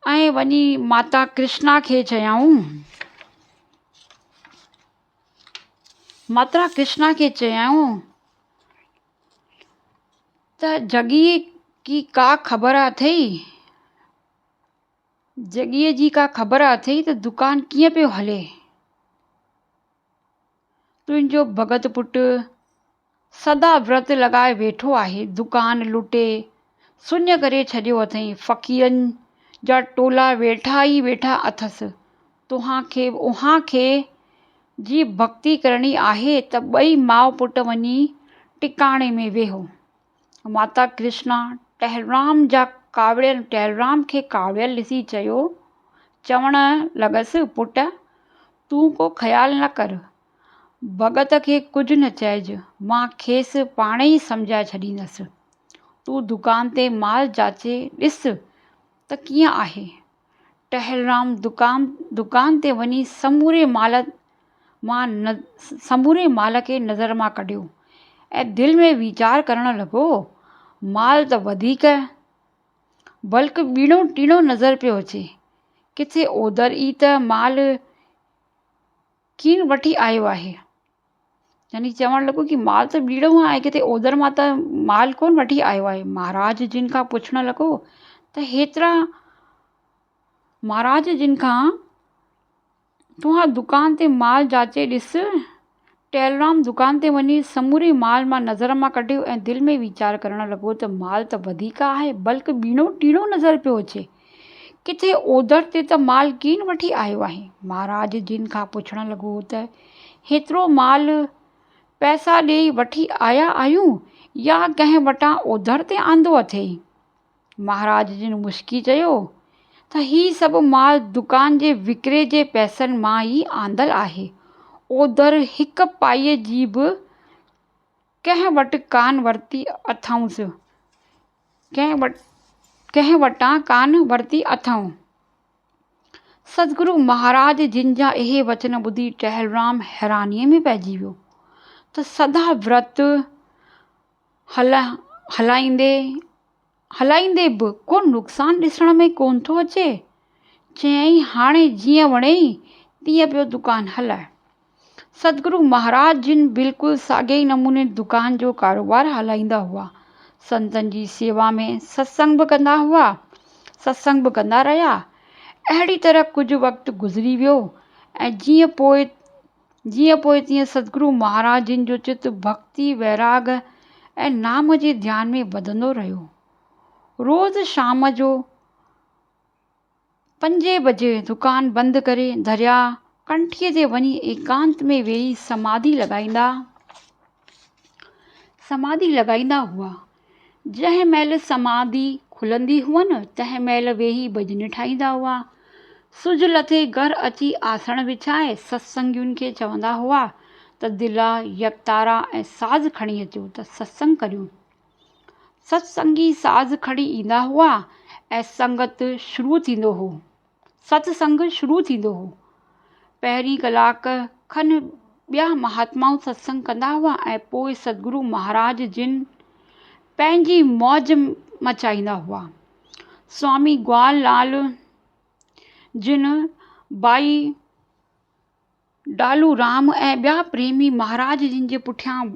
۽ وڃي ماتا ڪرشنا کي چيائون. ماتا ڪرشنا کي چيائون ته جڳيء جي ڪا خبر اٿئي؟ جڳيء جي ڪا خبر اٿئي ته دڪان ڪيئن پيو هلي؟ تنهنجو ڀڳت پٽ سدا ورت لڳائي ويٺو آهي، دڪان لٽي سڃ ڪري ڇڏيو اٿئي، فقيرن جا ٽولا ويٺا ئي ويٺا اٿس، توهان کي اوهان کي جي ڀڳتي ڪرڻي آهي ته ٻئي ماء پٽ وڃي ٽڪاڻي ۾ ويهو. ماتا ڪرشنا ٽهلرام جا ڪاوڙيل ٽهلرام کي ڪاوڙيل ڏسي چيو چوڻ لڳس پٽ تون ڪو خيال نه ڪر ڀڳت کي ڪجهه نه چئج مان کيس پاڻ ئي سمجهائي ڇڏيندس تون دڪان تي مال جاچي ڏس ته ڪيئن آهي ٽهلرام دڪان تي وڃي سموري مال مان سموري مال کي نظر مان ڪڍيو ۽ دل ۾ ويچار ڪرڻ لڳو مال ته وڌيڪ بلڪ ٻيڻو ٽيڻو نظر پيو اچي ڪٿي اوڌر ئي ته مال کين وٺي آيو آهي. يعني چوڻ لڳو ڪي مال ته ٻيڙو مان آهي ڪٿي اوڌر مان ته مال ڪونه وٺي آيو آهي. مهاراج جن کان پڇڻ لڳو ته هيترا مهاراج جن کان توهان دڪان تي مال جاچي ڏس. ٽيلرام دڪان تي وڃي سموري مال مان نظر مان ڪڍيو ۽ دل ۾ ويچار ڪرڻ لڳو ته مال ته وڌيڪ آهي بلڪ ٻيڻو ٽيڻو نظر پيو اچي. ڪٿي اوڌڙ تي ته مال ڪين وٺي آيو آهين؟ مهاراج جن کان پڇڻ لڳو ته هيترو مال پئسا ڏئي وٺي آيا آهيون يا ڪنهن وٽان اوڌڙ تي آندو اٿئي؟ مهاراج جن مسڪي چيو ته هي سڀ مال دڪان جي وڪري جي پئسن مان ئي آندل آهي. اوڌر هڪ پائي جي به ڪنهن وٽ ڪانه ورتي اٿئونس. ڪنهن وٽان ڪانه ورتي اٿئون. سدگرو مهاراج جن جا اهي وچن ٻڌي ٽهلرام حيرانيء ۾ پئجي ويو ته سدا ورت هلائيندي هلائيندي به ڪو نقصان ڏسڻ ۾ ڪونه ٿو اچي. چيائين هاڻي جيئن وڻيئي تيئن پيو دڪان هلائي. سدگرو مهاراج جن بلڪل ساڳئي نموني دڪان جو ڪاروبار هلائيندا هئا. سنتن جي سيوا ۾ ستسنگ به ڪندا هئا. ستسنگ به ڪندا رهيا. اهڙي طرح ڪجهه وقت گذري ويو ۽ جيئن پوء جيئن پوء تيئن سدگرو مهاراج جن جو چت ڀڳتي، ويراڳ ۽ نام جي ڌيان ۾ وڌندو رهيو. روز شام جو. پنجين بجي دڪان بند ڪري درياء ڪنٺيء تي وڃي ايڪانت ۾ ويهي سماڌي لڳائيندا سماڌي لڳائيندا هئا. جنهن مهل سماڌي کلندي هئن، تنهن مهل ويهي ڀڄن ٺاهيندا هئا. سج لٿي گهر اچي آسڻ وڇائي ستسنگين کي چوندا هئا ته دلا، يڪتارا ۽ ساز کڻي اچو ته ستسنگ ڪريون. ستسنگي ساز کڻي ايندا هئا ۽ سنگت شروع ٿيندو هو ستسنگ شروع ٿيندو هو پهرين ڪلاڪ کن ٻيا مهاتمائون ستسنگ ڪندا هئا ۽ پوء ستگرو مهاراج جن پنهنجي موج مچائيندا هئا سوامي گوال لال جن بائي ڊالورام ۽ ٻيا پريمي مهاراج جن جي پٺيان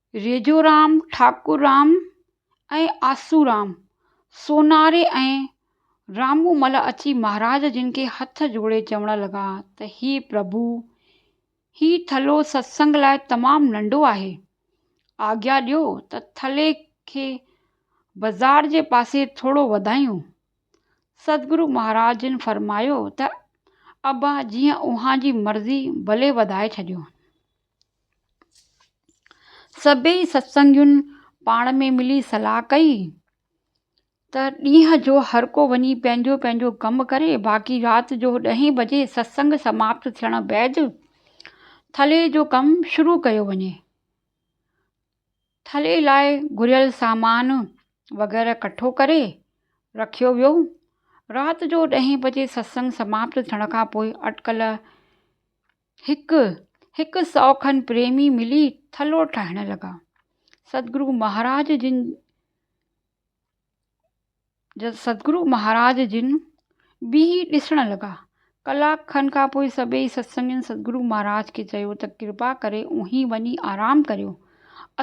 ريجورام، ٺاڪرام ۽ آسورام، سوناري ۽ رامومل اچي مهاراج جن کي هٿ جوڙي چوڻ لڳا ته هي پرڀو، هي ٿلهو ستسنگ لاء تمام ننڍو آهي. آگيا ڏيو ته ٿلهي کي بزار جي پاسي ٿورو وڌايون. ستگرو مهاراج جن فرمايو ته ابا جيئن اوهان جي مرضي، ڀلي وڌائي ڇڏيو. سڀيئي ستسنگين پاڻ ۾ ملي صلاح ڪئي ته ڏينهن جو هر ڪو وڃي پنهنجو پنهنجو ڪم ڪري باقي رات جو ڏهين بجي ستسنگ سماپت ٿيڻ بعد ٿلهي جو ڪم شروع ڪيو وڃي. ٿلهي لاء گهريل سامان وغيره ڪٺو ڪري رکيو ويو. رات جو ڏهين بجي ستسنگ سماپت ٿيڻ کان پوء اٽڪل هڪ هڪ سئو کن پريمي ملي ٿلهو ٺاهڻ لڳا. سدگرو مهاراج جن سدگرو مهاراج جن بيهي ڏسڻ لڳا. ڪلاڪ کن کان پوء سڀيئي ستسنگين سدگرو مهاراج کي چيو ته ڪرپا ڪري اوهين وڃي آرام ڪريو.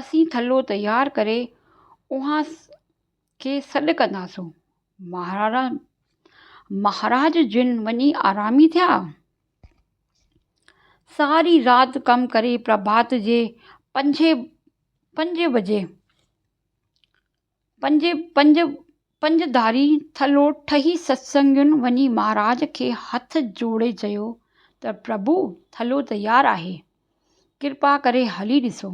اسين ٿلهو تيار ڪري اوهان کي سڏ ڪنداسون. مهراڻ، مهاراج جن وڃي آرامي ٿيا. ساري رات ڪم ڪري پرڀات جي پنجين پنج بجي پنج پنج پنج ڌاري ٿلهو ٺهي ستسنگين وڃي مهاراج کي هٿ جوڙي چيو ته پرڀو ٿلهو تيار آهي ڪرپا ڪري هلي ڏسو.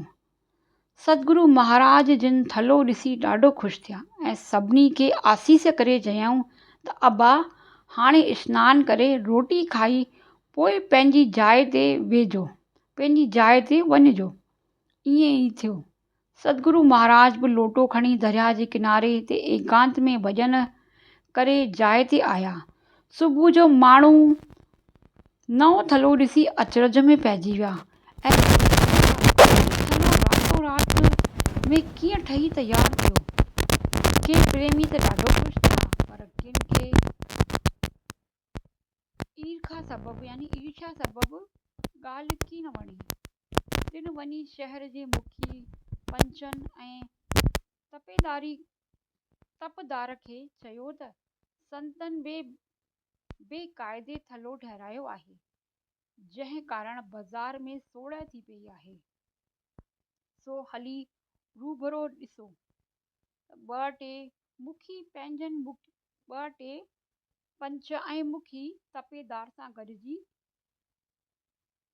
سدگرو مهاراج جن ٿلهو ڏسي ڏاڍو خوش ٿيا ۽ سڀني کي آسيس ڪري چيائون ته ابا هاڻي اسنان ڪري روٽي کائي پوء پنهنجي جاء تي ويهجو، پنهنجي جاء تي وڃجو. ائين ئي ٿيو. سدگرو مهاراج به لوٽو کڻي درياء جي ڪناري تي ايڪانت ۾ ڀڄن ڪري جاء تي آيا. صبح جو ماڻهو. نئون ٿلهو ڏسي اچرج ۾ پئجي ويا ۽ پڇيائون ته هي ٿلهو راتو رات ۾ ڪيئن ٺهي تيار ٿيو؟ ڪي پريمي ته ڏاڍو خوش ٿيا پر ڪن کي ايرکا سبب يعني عرشا سبب ڳالهه ڪي نه وڻي. ٽن وڃي شهر جي مکي، پنچن ۽ تپداري تپدار کي چيو ته سندن بي بي قاعدي ٿلهو ٺهرايو آهي جنهن ڪارڻ بازار ۾ سوڙهه ٿي پئي آهي سو هلي روبرو ڏسو ته ٻه ٽي مکي پنهنجن ٻه ٽي پنچ ۽ مکي تپيدار سان گڏجي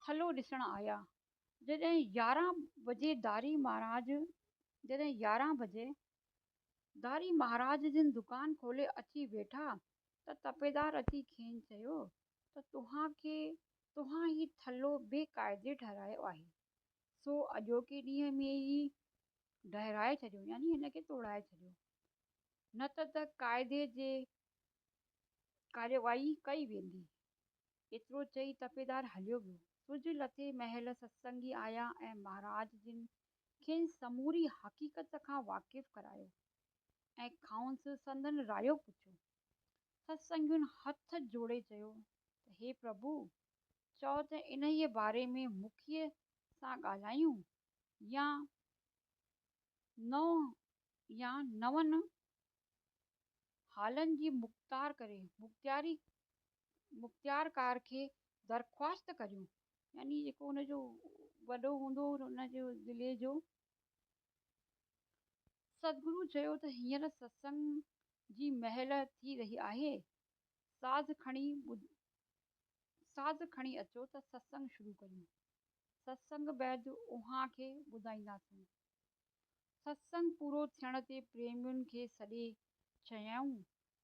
ٿلهو ڏسڻ آيا جڏهن يارهن بجي داري مهاراج جڏهن يارهن بجي داري مهاراج جن دڪان کولي اچي ويٺا ته تپيدار اچي کين چيو ته توهان کي توهان هي ٿلهو بي قاعدي ٺهرايو آهي سو اڄوڪي ڏينهن ۾ ئي ڊهرائي ڇڏيو يعني هن کي توڙائي ڇڏيو نه ته ته قاعدي جي ڪارروائي ڪئي ويندي. ايترو چئي تپيدار هليو ويو. سج لٿي مهل ستسنگي آيا ۽ مهاراج جن کين سموري حقيقت کان واقف ڪرايو ۽ کانئس سندن رايو پڇيو. ستسنگين هٿ جوڙي چيو ته هي پرڀو! چئو ته انهيء باري ۾ مکيء سان ڳالهايون يا نو يا نون هالن جي مختار ڪري مختياري مختيار ڪار کي درخواست ڪريون يعني جيڪو ان جو وڏو هوندو ان جو ضلعي جو سدگرو چيو ته هينئر ستسنگ جي مهل ٿي رهي آهي ساز کڻي ساز کڻي اچو ته ستسنگ شروع ڪريون ستسنگ بعد اوهان کي ٻڌائينداسون ستسنگ پورو ٿيڻ تي پريمين کي سڏي چيائون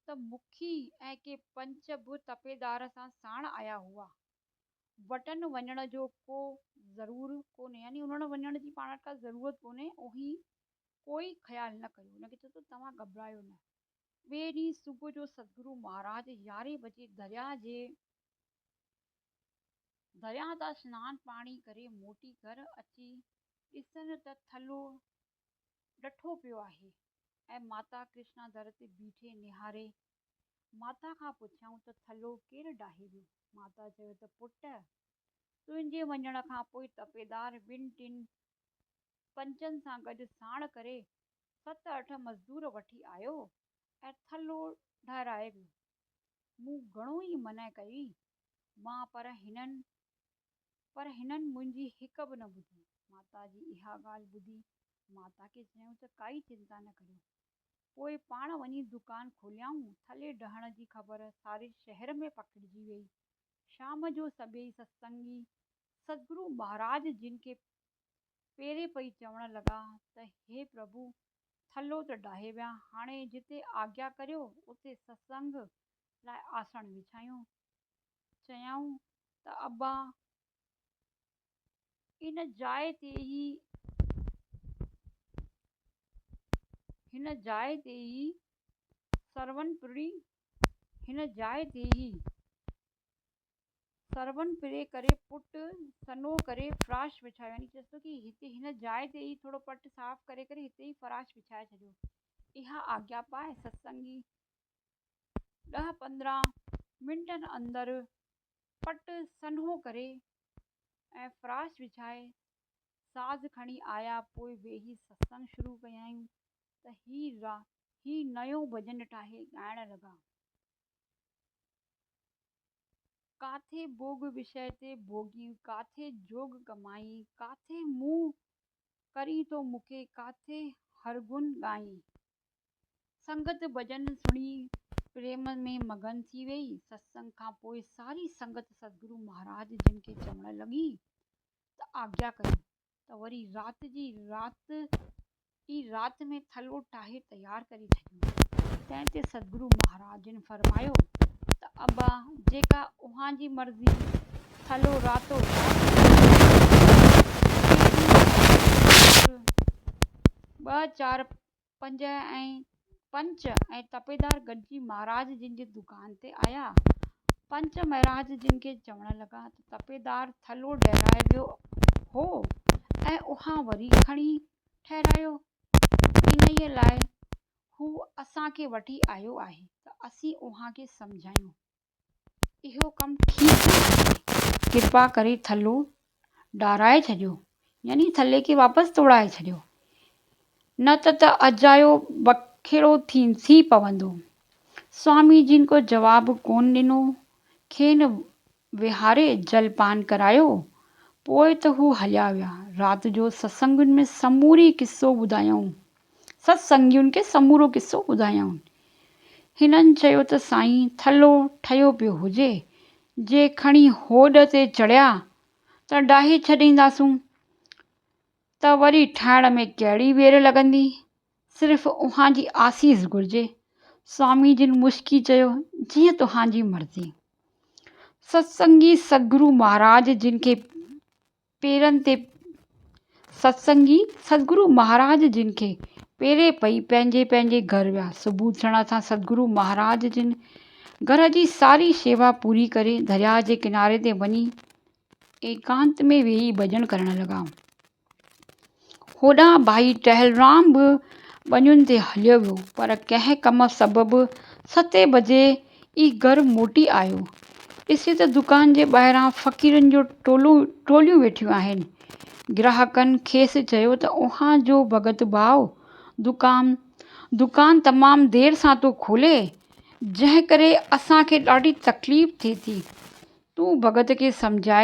ته مکي ۽ ڪي پنچ به تپيدار سان ساڻ آيا هئا. وٽن وڃڻ جو ڪو ضرور ڪونهي يعني انهن وٽ وڃڻ جي پاڻ وٽ ڪا ضرورت ڪونهي اوهين ڪوئي خيال نه ڪيو. هن کي چيو ته توهان گهٻرايو نه. ٻئي ڏينهن صبح جو سدگرو مهاراج يارهين بجي درياهه جي درياهه تان سنان پاڻي ڪري موٽي گهر اچي ڏسن ته ٿلهو ڏٺو پيو آهي ۽ ماتا ڪرشنا در تي بيٺي نهاري. ماتا کان پڇيائون ته ٿلهو ڪير ڊاهي ويو؟ ماتا چيو ته پٽ! تنهنجي وڃڻ کان پوء تپيدار ٻن ٽن پنچن سان گڏ ساڻ ڪري ست اٺ مزدور وٺي آيو ۽ ٿلهو ڊهرائي ويو. مون گهڻو ئي منع ڪئي مان پر هنن پر هنن منهنجي هڪ به نه ٻڌي. ماتا جي اها ڳالهه ٻڌي ماتا کي چيائون ته ڪائي چنتا نه ڪريو پوء پاڻ وڃي دڪان کوليائون ٿلهي ڊهڻ جي خبر ساري شهر ۾ پکڙجي ويئي شام جو سڀيئي ستسنگي سدگرو مهاراج جن کي پيري پئي چوڻ لڳا ته هي پرڀو ٿلهو ته ڊاهي ويا هاڻي جتي آگيا ڪريو اتي ستسنگ لاء آسڻ وڇايون. چيائون ته ابا ان جاء تي ئي هن جاء تي ئي سرون پرڙي هن جاء تي ئي سرون پري ڪري پٽ سنهو ڪري فراش وڇايو يعني چيس ٿو ته هتي هن جاء تي ئي ٿورو پٽ صاف ڪري ڪري هتي ئي فراش وڇائي ڇڏيو. اها آگيا پاء ستسنگي ڏهه پندرهن منٽن اندر پٽ سنهو ڪري ۽ فراش وڇائي ساز کڻي آيا پوء ويهي ستسنگ شروع ڪيائون ته هي هي نيون ڀڄن ٺاهي ڳائڻ لڳا. ڪاٿي ڀوڳ وشيه تي ڀوڳين ڪاٿي جوڳ ڪمائين ڪاٿي مون ڪرين ٿو مکي ڪاٿي هرگن ڳائين. سنگت ڀڄن سڻي پريم ۾ مگن ٿي ويئي. ستسنگ کان پوء ساري سنگت سدگرو مهاراج جن کي چوڻ لڳي ته آجيا ڪريو ته وري رات جي رات ئي رات ۾ ٿلهو ٺاهي تيار ڪري ڇڏيون. تنهن تي سدگرو مهاراج جن فرمايو ته ابا جيڪا اوهان جي مرضي، ٿلهو راتو رات ٺاهي ڇڏيو، ڪي ڏينهن ٻه چار پنج ۽ پنچ ۽ تپيدار گڏجي مهاراج جن جي دڪان تي آيا. پنچ مهراج جن کي چوڻ لڳا ته تپيدار ٿلهو ڊهرائي ويو هو ۽ اها وري کڻي ٺهرايو. انهيء لاء هو اسان کي وٺي آيو آهي ته اسين اوهان کي سمجهايون. اهو ڪم ٺيڪ نه آهي، ڪرپا ڪري ٿلهو ڊاهرائي ڇڏيو، يعني ٿلهي کي واپس توڙائي ڇڏيو، نه ته ته اجايو بکيڙو ٿي پوندو. سوامي جين ڪو جواب ڪونه ڏنو، کين ويهاري جل پان ڪرايو، پوء ته هو هليا ويا. رات جو ستسنگن ۾ سموري قصو ٻڌايائون. ست سنگيون کي سمورو قصو ٻڌايائون. هنن چيو ته سائين ٿلهو ٺهيو پيو هجي، جي کڻي هوڏ تي چڙهيا ته ڊاهي ڇڏينداسون ته وري ٺاهڻ ۾ ڪهڙي وير لڳندي، صرف اوهان جي آسيس گهرجي. سوامي جن مسڪي چيو، جيئن توهان جي مرضي. ست سنگي سگرو مهاراج جن کي پيرن تي ستسنگي سدگرو مهاراج جن کي پيري پئي پنهنجي پنهنجي گهر ويا. صبح ٿيڻ سان سدگرو مهاراج جن گهر جي ساري شيوا پوري ڪري درياهه جي ڪناري تي وڃي ايڪانت ۾ ويهي ڀڄن ڪرڻ لڳا. هوڏانهن ڀائي ٽهلرام به ٻنين تي هليو ويو، پر ڪنهن ڪم سبب ستين بجي ئي گهر موٽي آيو. ڏسي ته دڪان جي ٻاهران فقيرن جون ٽولون ٽوليون ويٺيون آهن. گراهڪن کيس چيو ته اوهان جو ڀڳت ڀاء دڪان دڪان تمام دير سان ٿو کولي، جنهن ڪري اسان کي ڏاڍي تڪليف ٿئي ٿي. تون ڀڳت کي سمجهاء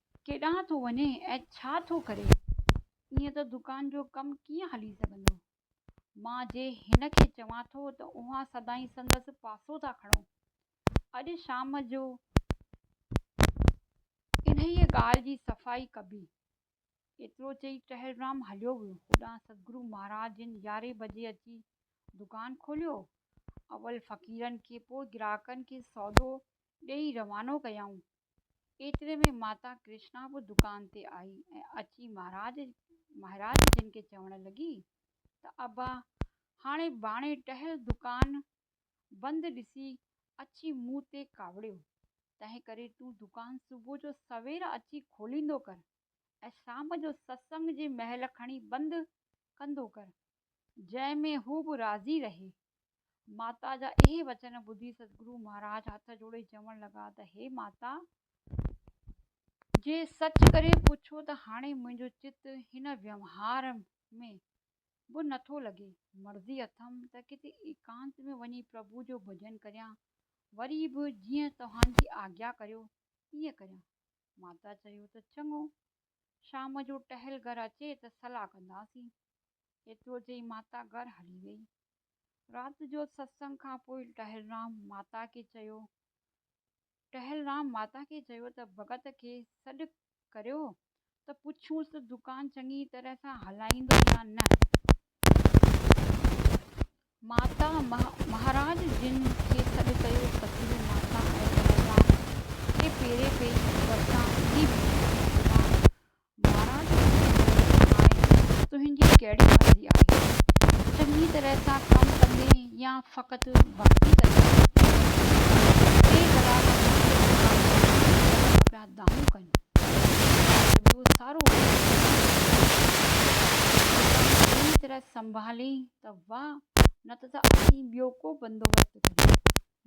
ڪيڏانهن ٿو وڃي ۽ ڇا ٿو ڪري؟ ائين ته دڪان جو ڪم ڪيئن هلي سگهندو؟ مان جي هن کي چوان ٿو ته اوهان سدائين سندس پاسو ٿا کڻو. اڄ شام جو انهيء ڳالهه جي صفائي ڪبي. ايترو چئي ٽهلرام هليو ويو. هوڏانهن سدگرو مهاراج جن يارهين بجي اچي دڪان کوليو. اول فقيرن کي پوء گراهڪن کي سودو ڏيئي روانو ڪيائون. ايتري ۾ ماتا ڪرشنا به دڪان تي آئي ۽ اچي مهاراج مهراج جن کي چوڻ لڳي ته ابا هاڻي ٻاڻي ٽهل دڪان بند ڏسي اچي مون تي ڪاوڙيو تنهن ڪري تون دڪان صبح جو سوير اچي کوليندو ڪر ۽ شام جو ستسنگ جي مهل کڻي بند ڪندو ڪر جنهن ۾ هو به راضي رهي. ماتا جا اهي وچن ٻڌي سدگرو مهاراج هٿ جوڙي چوڻ لڳا ته هي ماتا! جي سچ ڪري پڇو ته هاڻي منهنجو چت هن ويوهار ۾ به نٿو لڳي. مرضي اٿم ته ڪٿي ايڪانت ۾ وڃي پرڀو جو ڀڄن ڪريان. وري به جيئن توهان جي آگيا ڪريو تيئن ڪريان. ماتا چيو ته چڱو شام جو ٽهل گهر اچي ته صلاح ڪنداسين. ايترو چئي ماتا گهر هلي وئي. رات جو ستسنگ کان پوء ٽهلرام ماتا کي چيو ٽهلرام ماتا کي چيو ته ڀڳت کي سڏ ڪريو ته پڇونس ته دڪان چڱي طرح سان هلائيندو يا نه. ماتا مهاراج جن کي سڏ ڪيو ته پيري ماتا ۽ پهلوان کي پيري پيش ڪري ورتائين ۽ پهلوان مهاراج کي چيو ته هاڻي تنهنجي ڪهڙي مرضي آهي چڱي طرح سان ڪم ڪندين يا فقط ڀڳتي ڪندين ٽي برابر مختلف ڪارڪن جي طرفان پيا ڌڪا کائين دانهون ڪيون ۽ پوء اهو سارو ڪم اهڙي طرح سنڀالين ته واهه نه ته اسين ٻيو ڪو بندوبست ڪريون.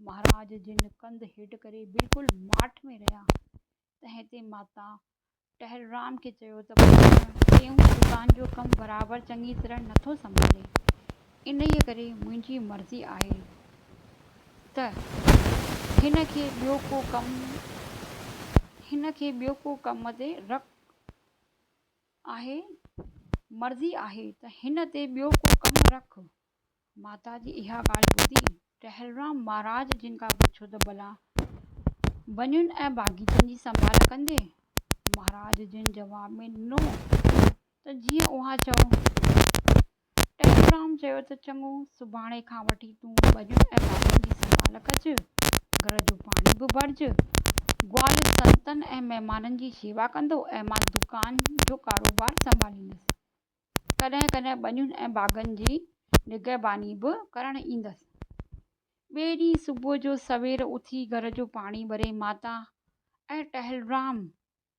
مهاراج جن ڪنڌ هيٺ ڪري بلڪل ماٺ ۾ رهيا. تنهن تي ماتا ٽهرورام کي چيو ته پٽ ٽيون دڪان جو ڪم برابر چڱي طرح نٿو سنڀالين. انهيء ڪري منهنجي مرضي آهي ته هن کي ٻيو ڪو ڪم هن کي ٻيو ڪو ڪم تي رک آهي مرضي آهي ته هن تي ٻيو ڪو ڪم رک ماتا جي اها ڳالهه ٻڌي ٽهلرام مهاراج جن کان پڇيو ته ڀلا ونين ۽ باغيچن جي سنڀال ڪندين مهاراج جن جواب ۾ ڏنو ته جيئن اوهان چئو. ٽيليگرام چيو ته چڱو، سڀاڻي کان وٺي تون ٻنين ۽ ٻارن جي سنڀال ڪج، گهر جو پاڻي به ڀرج، گوال سنتن ۽ مهمانن جي شيوا ڪندو ۽ مان دڪان جو ڪاروبار سنڀاليندس. ڪڏهن ڪڏهن ٻنين ۽ باغن جي نگهباني به ڪرڻ ايندس. ٻئي ڏينهن صبح جو سوير اٿي گهر جو پاڻي ڀري ماتا ۽ ٽيليگرام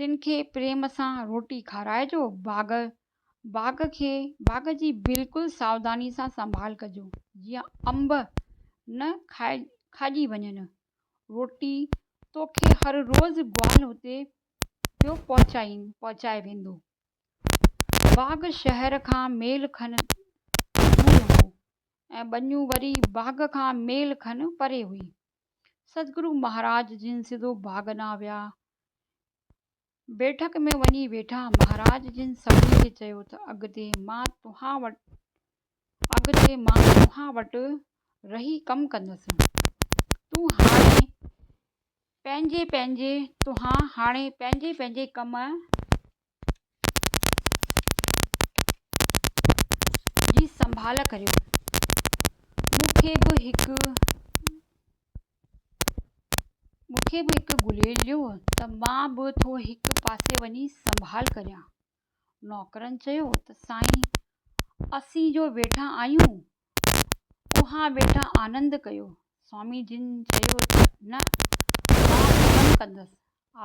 تن کي پريم سان روٽي کارائجو، باغ باغ کي باغ جي بلڪل ساوداني سان سنڀال ڪجو جيئن انب نه کاڄي وڃن، روٽي توکي هر روز گوال هتي پيو پهچائين پهچائي ويندو. باغ شهر کان ميل کن دور هو ۽ ٻنيون وري باغ کان ميل کن پري هئي. سدگرو مهاراج جن سڌو ڀاڳنا ويا. بيٺڪ ۾ وڃي ويٺا. مهاراج جن سڀني کي چيو ته اڳتي مان توهان وٽ اڳتي مان توهان وٽ رهي ڪم ڪندس. تون هاڻي پنهنجي پنهنجي توهان هاڻي پنهنجي پنهنجي ڪم جي سنڀال ڪريو مون کي به هڪ مون کي به هڪ گليلو ته مان به ٿو هڪ پاسي وڃي سنڀال ڪريان نوڪرن چيو ته سائين اسين جو ويٺا آهيون اوهان ويٺا آنند ڪيو سوامي جن چيو ته نه مان ڪم ڪندس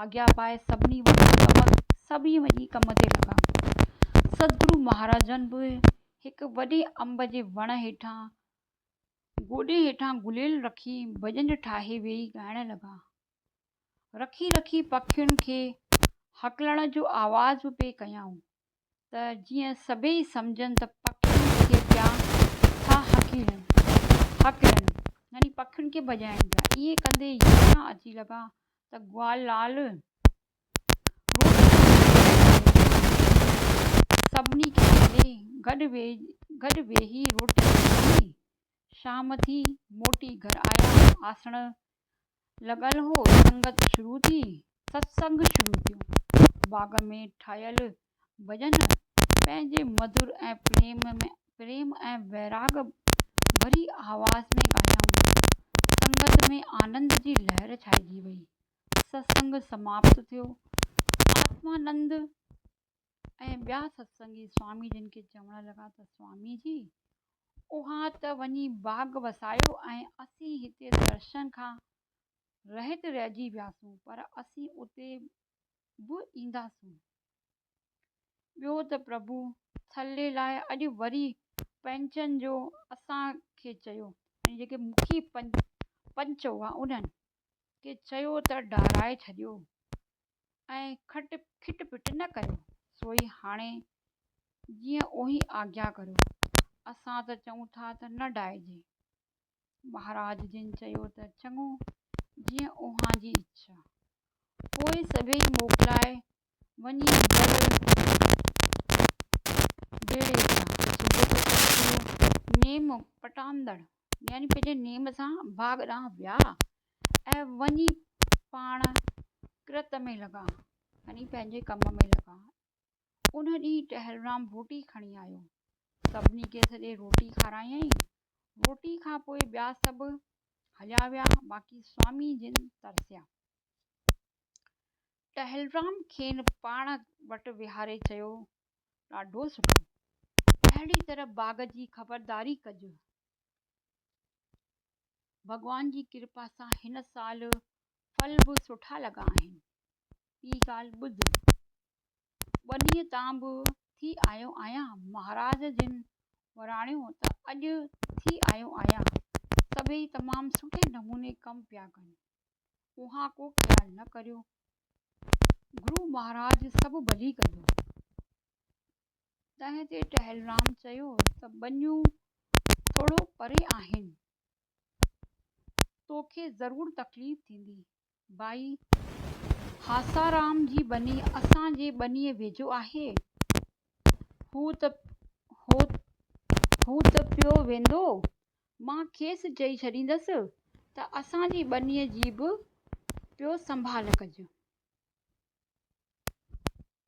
آجيا پائي سڀني وٽ سبق سبي وڃي ڪم تي لڳا. سدگرو مهاراجن به هڪ وڏي انب جي وڻ هيٺان گوڏي هيٺان گليل رکي ڀڄن ٺاهي ويهي ڳائڻ لڳا. رکي رکي پکين کي هڪلڻ جو آواز به پئي ڪيائون. ته جيئن سڀيئي سمجهن ته پکين کي پيا ٿا هڪلن هڪلن يعني پکين کي ڀڄائڻ پيا. ائين ڪندي يمنا اچي لڳا ته گوال لال روٽ ۾ سڀني کي ڇڏي گڏ گڏ ويهي روٽي کاڌي. شام ٿي موٽي گهر آيا. آسڻ لڳل هو، سنگت شروع ٿي، ستسنگ شروع ٿيو. باغ ۾ ٺاهيل ڀڄن پنهنجي مڌر ۽ پريم ۾ پريم ۽ ويراڳ ڀري آواز ۾ ڳايائون. سنگت ۾ آنند جي لهر ڇائجي وئي. ستسنگ سماپت ٿيو. آتمانند ۽ ٻيا ستسنگي سوامي جن کي چوڻ لڳا ته سوامي جي اوهان ته وڃي باغ وسايو ۽ اسين هتي درشن کان رهت رهجي وياسون پر اسين اتي به اينداسون ٻيو ته پرڀو ٿلهي لاء اڄ وري پنچن جو اسان کي چيو ۽ جيڪي مکي پنچ هئا انهن کي چيو ته ڊاهرائي ڇڏيو ۽ کٽ پٽ نه ڪريو سوئي هاڻي جيئن اوهين آگيا ڪريو اسان ته چئون ٿا ته نه ڊائجي مهاراج جن چيو ته چڱو جيئن اوهان جي اڇا پوء سڀئي موڪلائي وڃي نيم پٽاندڙ يعني پنهنجي نيم سان باغ ڏانهن ويا ۽ وڃي پاڻ ڪرت ۾ لڳا يعني پنهنجي ڪم ۾ لڳا ان ڏينهن ٽهلرام روٽي کڻي آيو سڀني کي سڄي روٽي کارايائين روٽي کان پوء ٻيا سڀ هليا ويا باقي سوامي جن ترسيا ٽهلرام کين پاڻ وٽ ويهاري چيو ڏاڍو سٺو اهڙي طرح باغ جي خبرداري ڪج ڀڳوان جي ڪرپا سان هن سال ڦل به سٺا لڳا آهن. ٻي ڳالهه ٻڌ، ٻه ڏينهن تان به ٿي آيو آهيان، مهاراج جن وراڻيو ته اڄ ٿي آيو آهيان. سڀئي تمام سٺي نموني ڪم پيا ڪن. اوهان ڪو خيال نه ڪريو. گرو مهاراج سڀ ڀلي ڪندو. تنهن تي ٽهلرام چيو ته ٻنيون ٿورو پري آهن، توکي ضرور تڪليف ٿيندي. ڀائي هاسارام جي ٻني اسان جي ٻنيء ويجهو آهي. هو ته هو ته پيو ويندو. مان کيس چئي ڇڏيندس ته اسان جي ٻنيء جي به پيو سنڀال ڪج.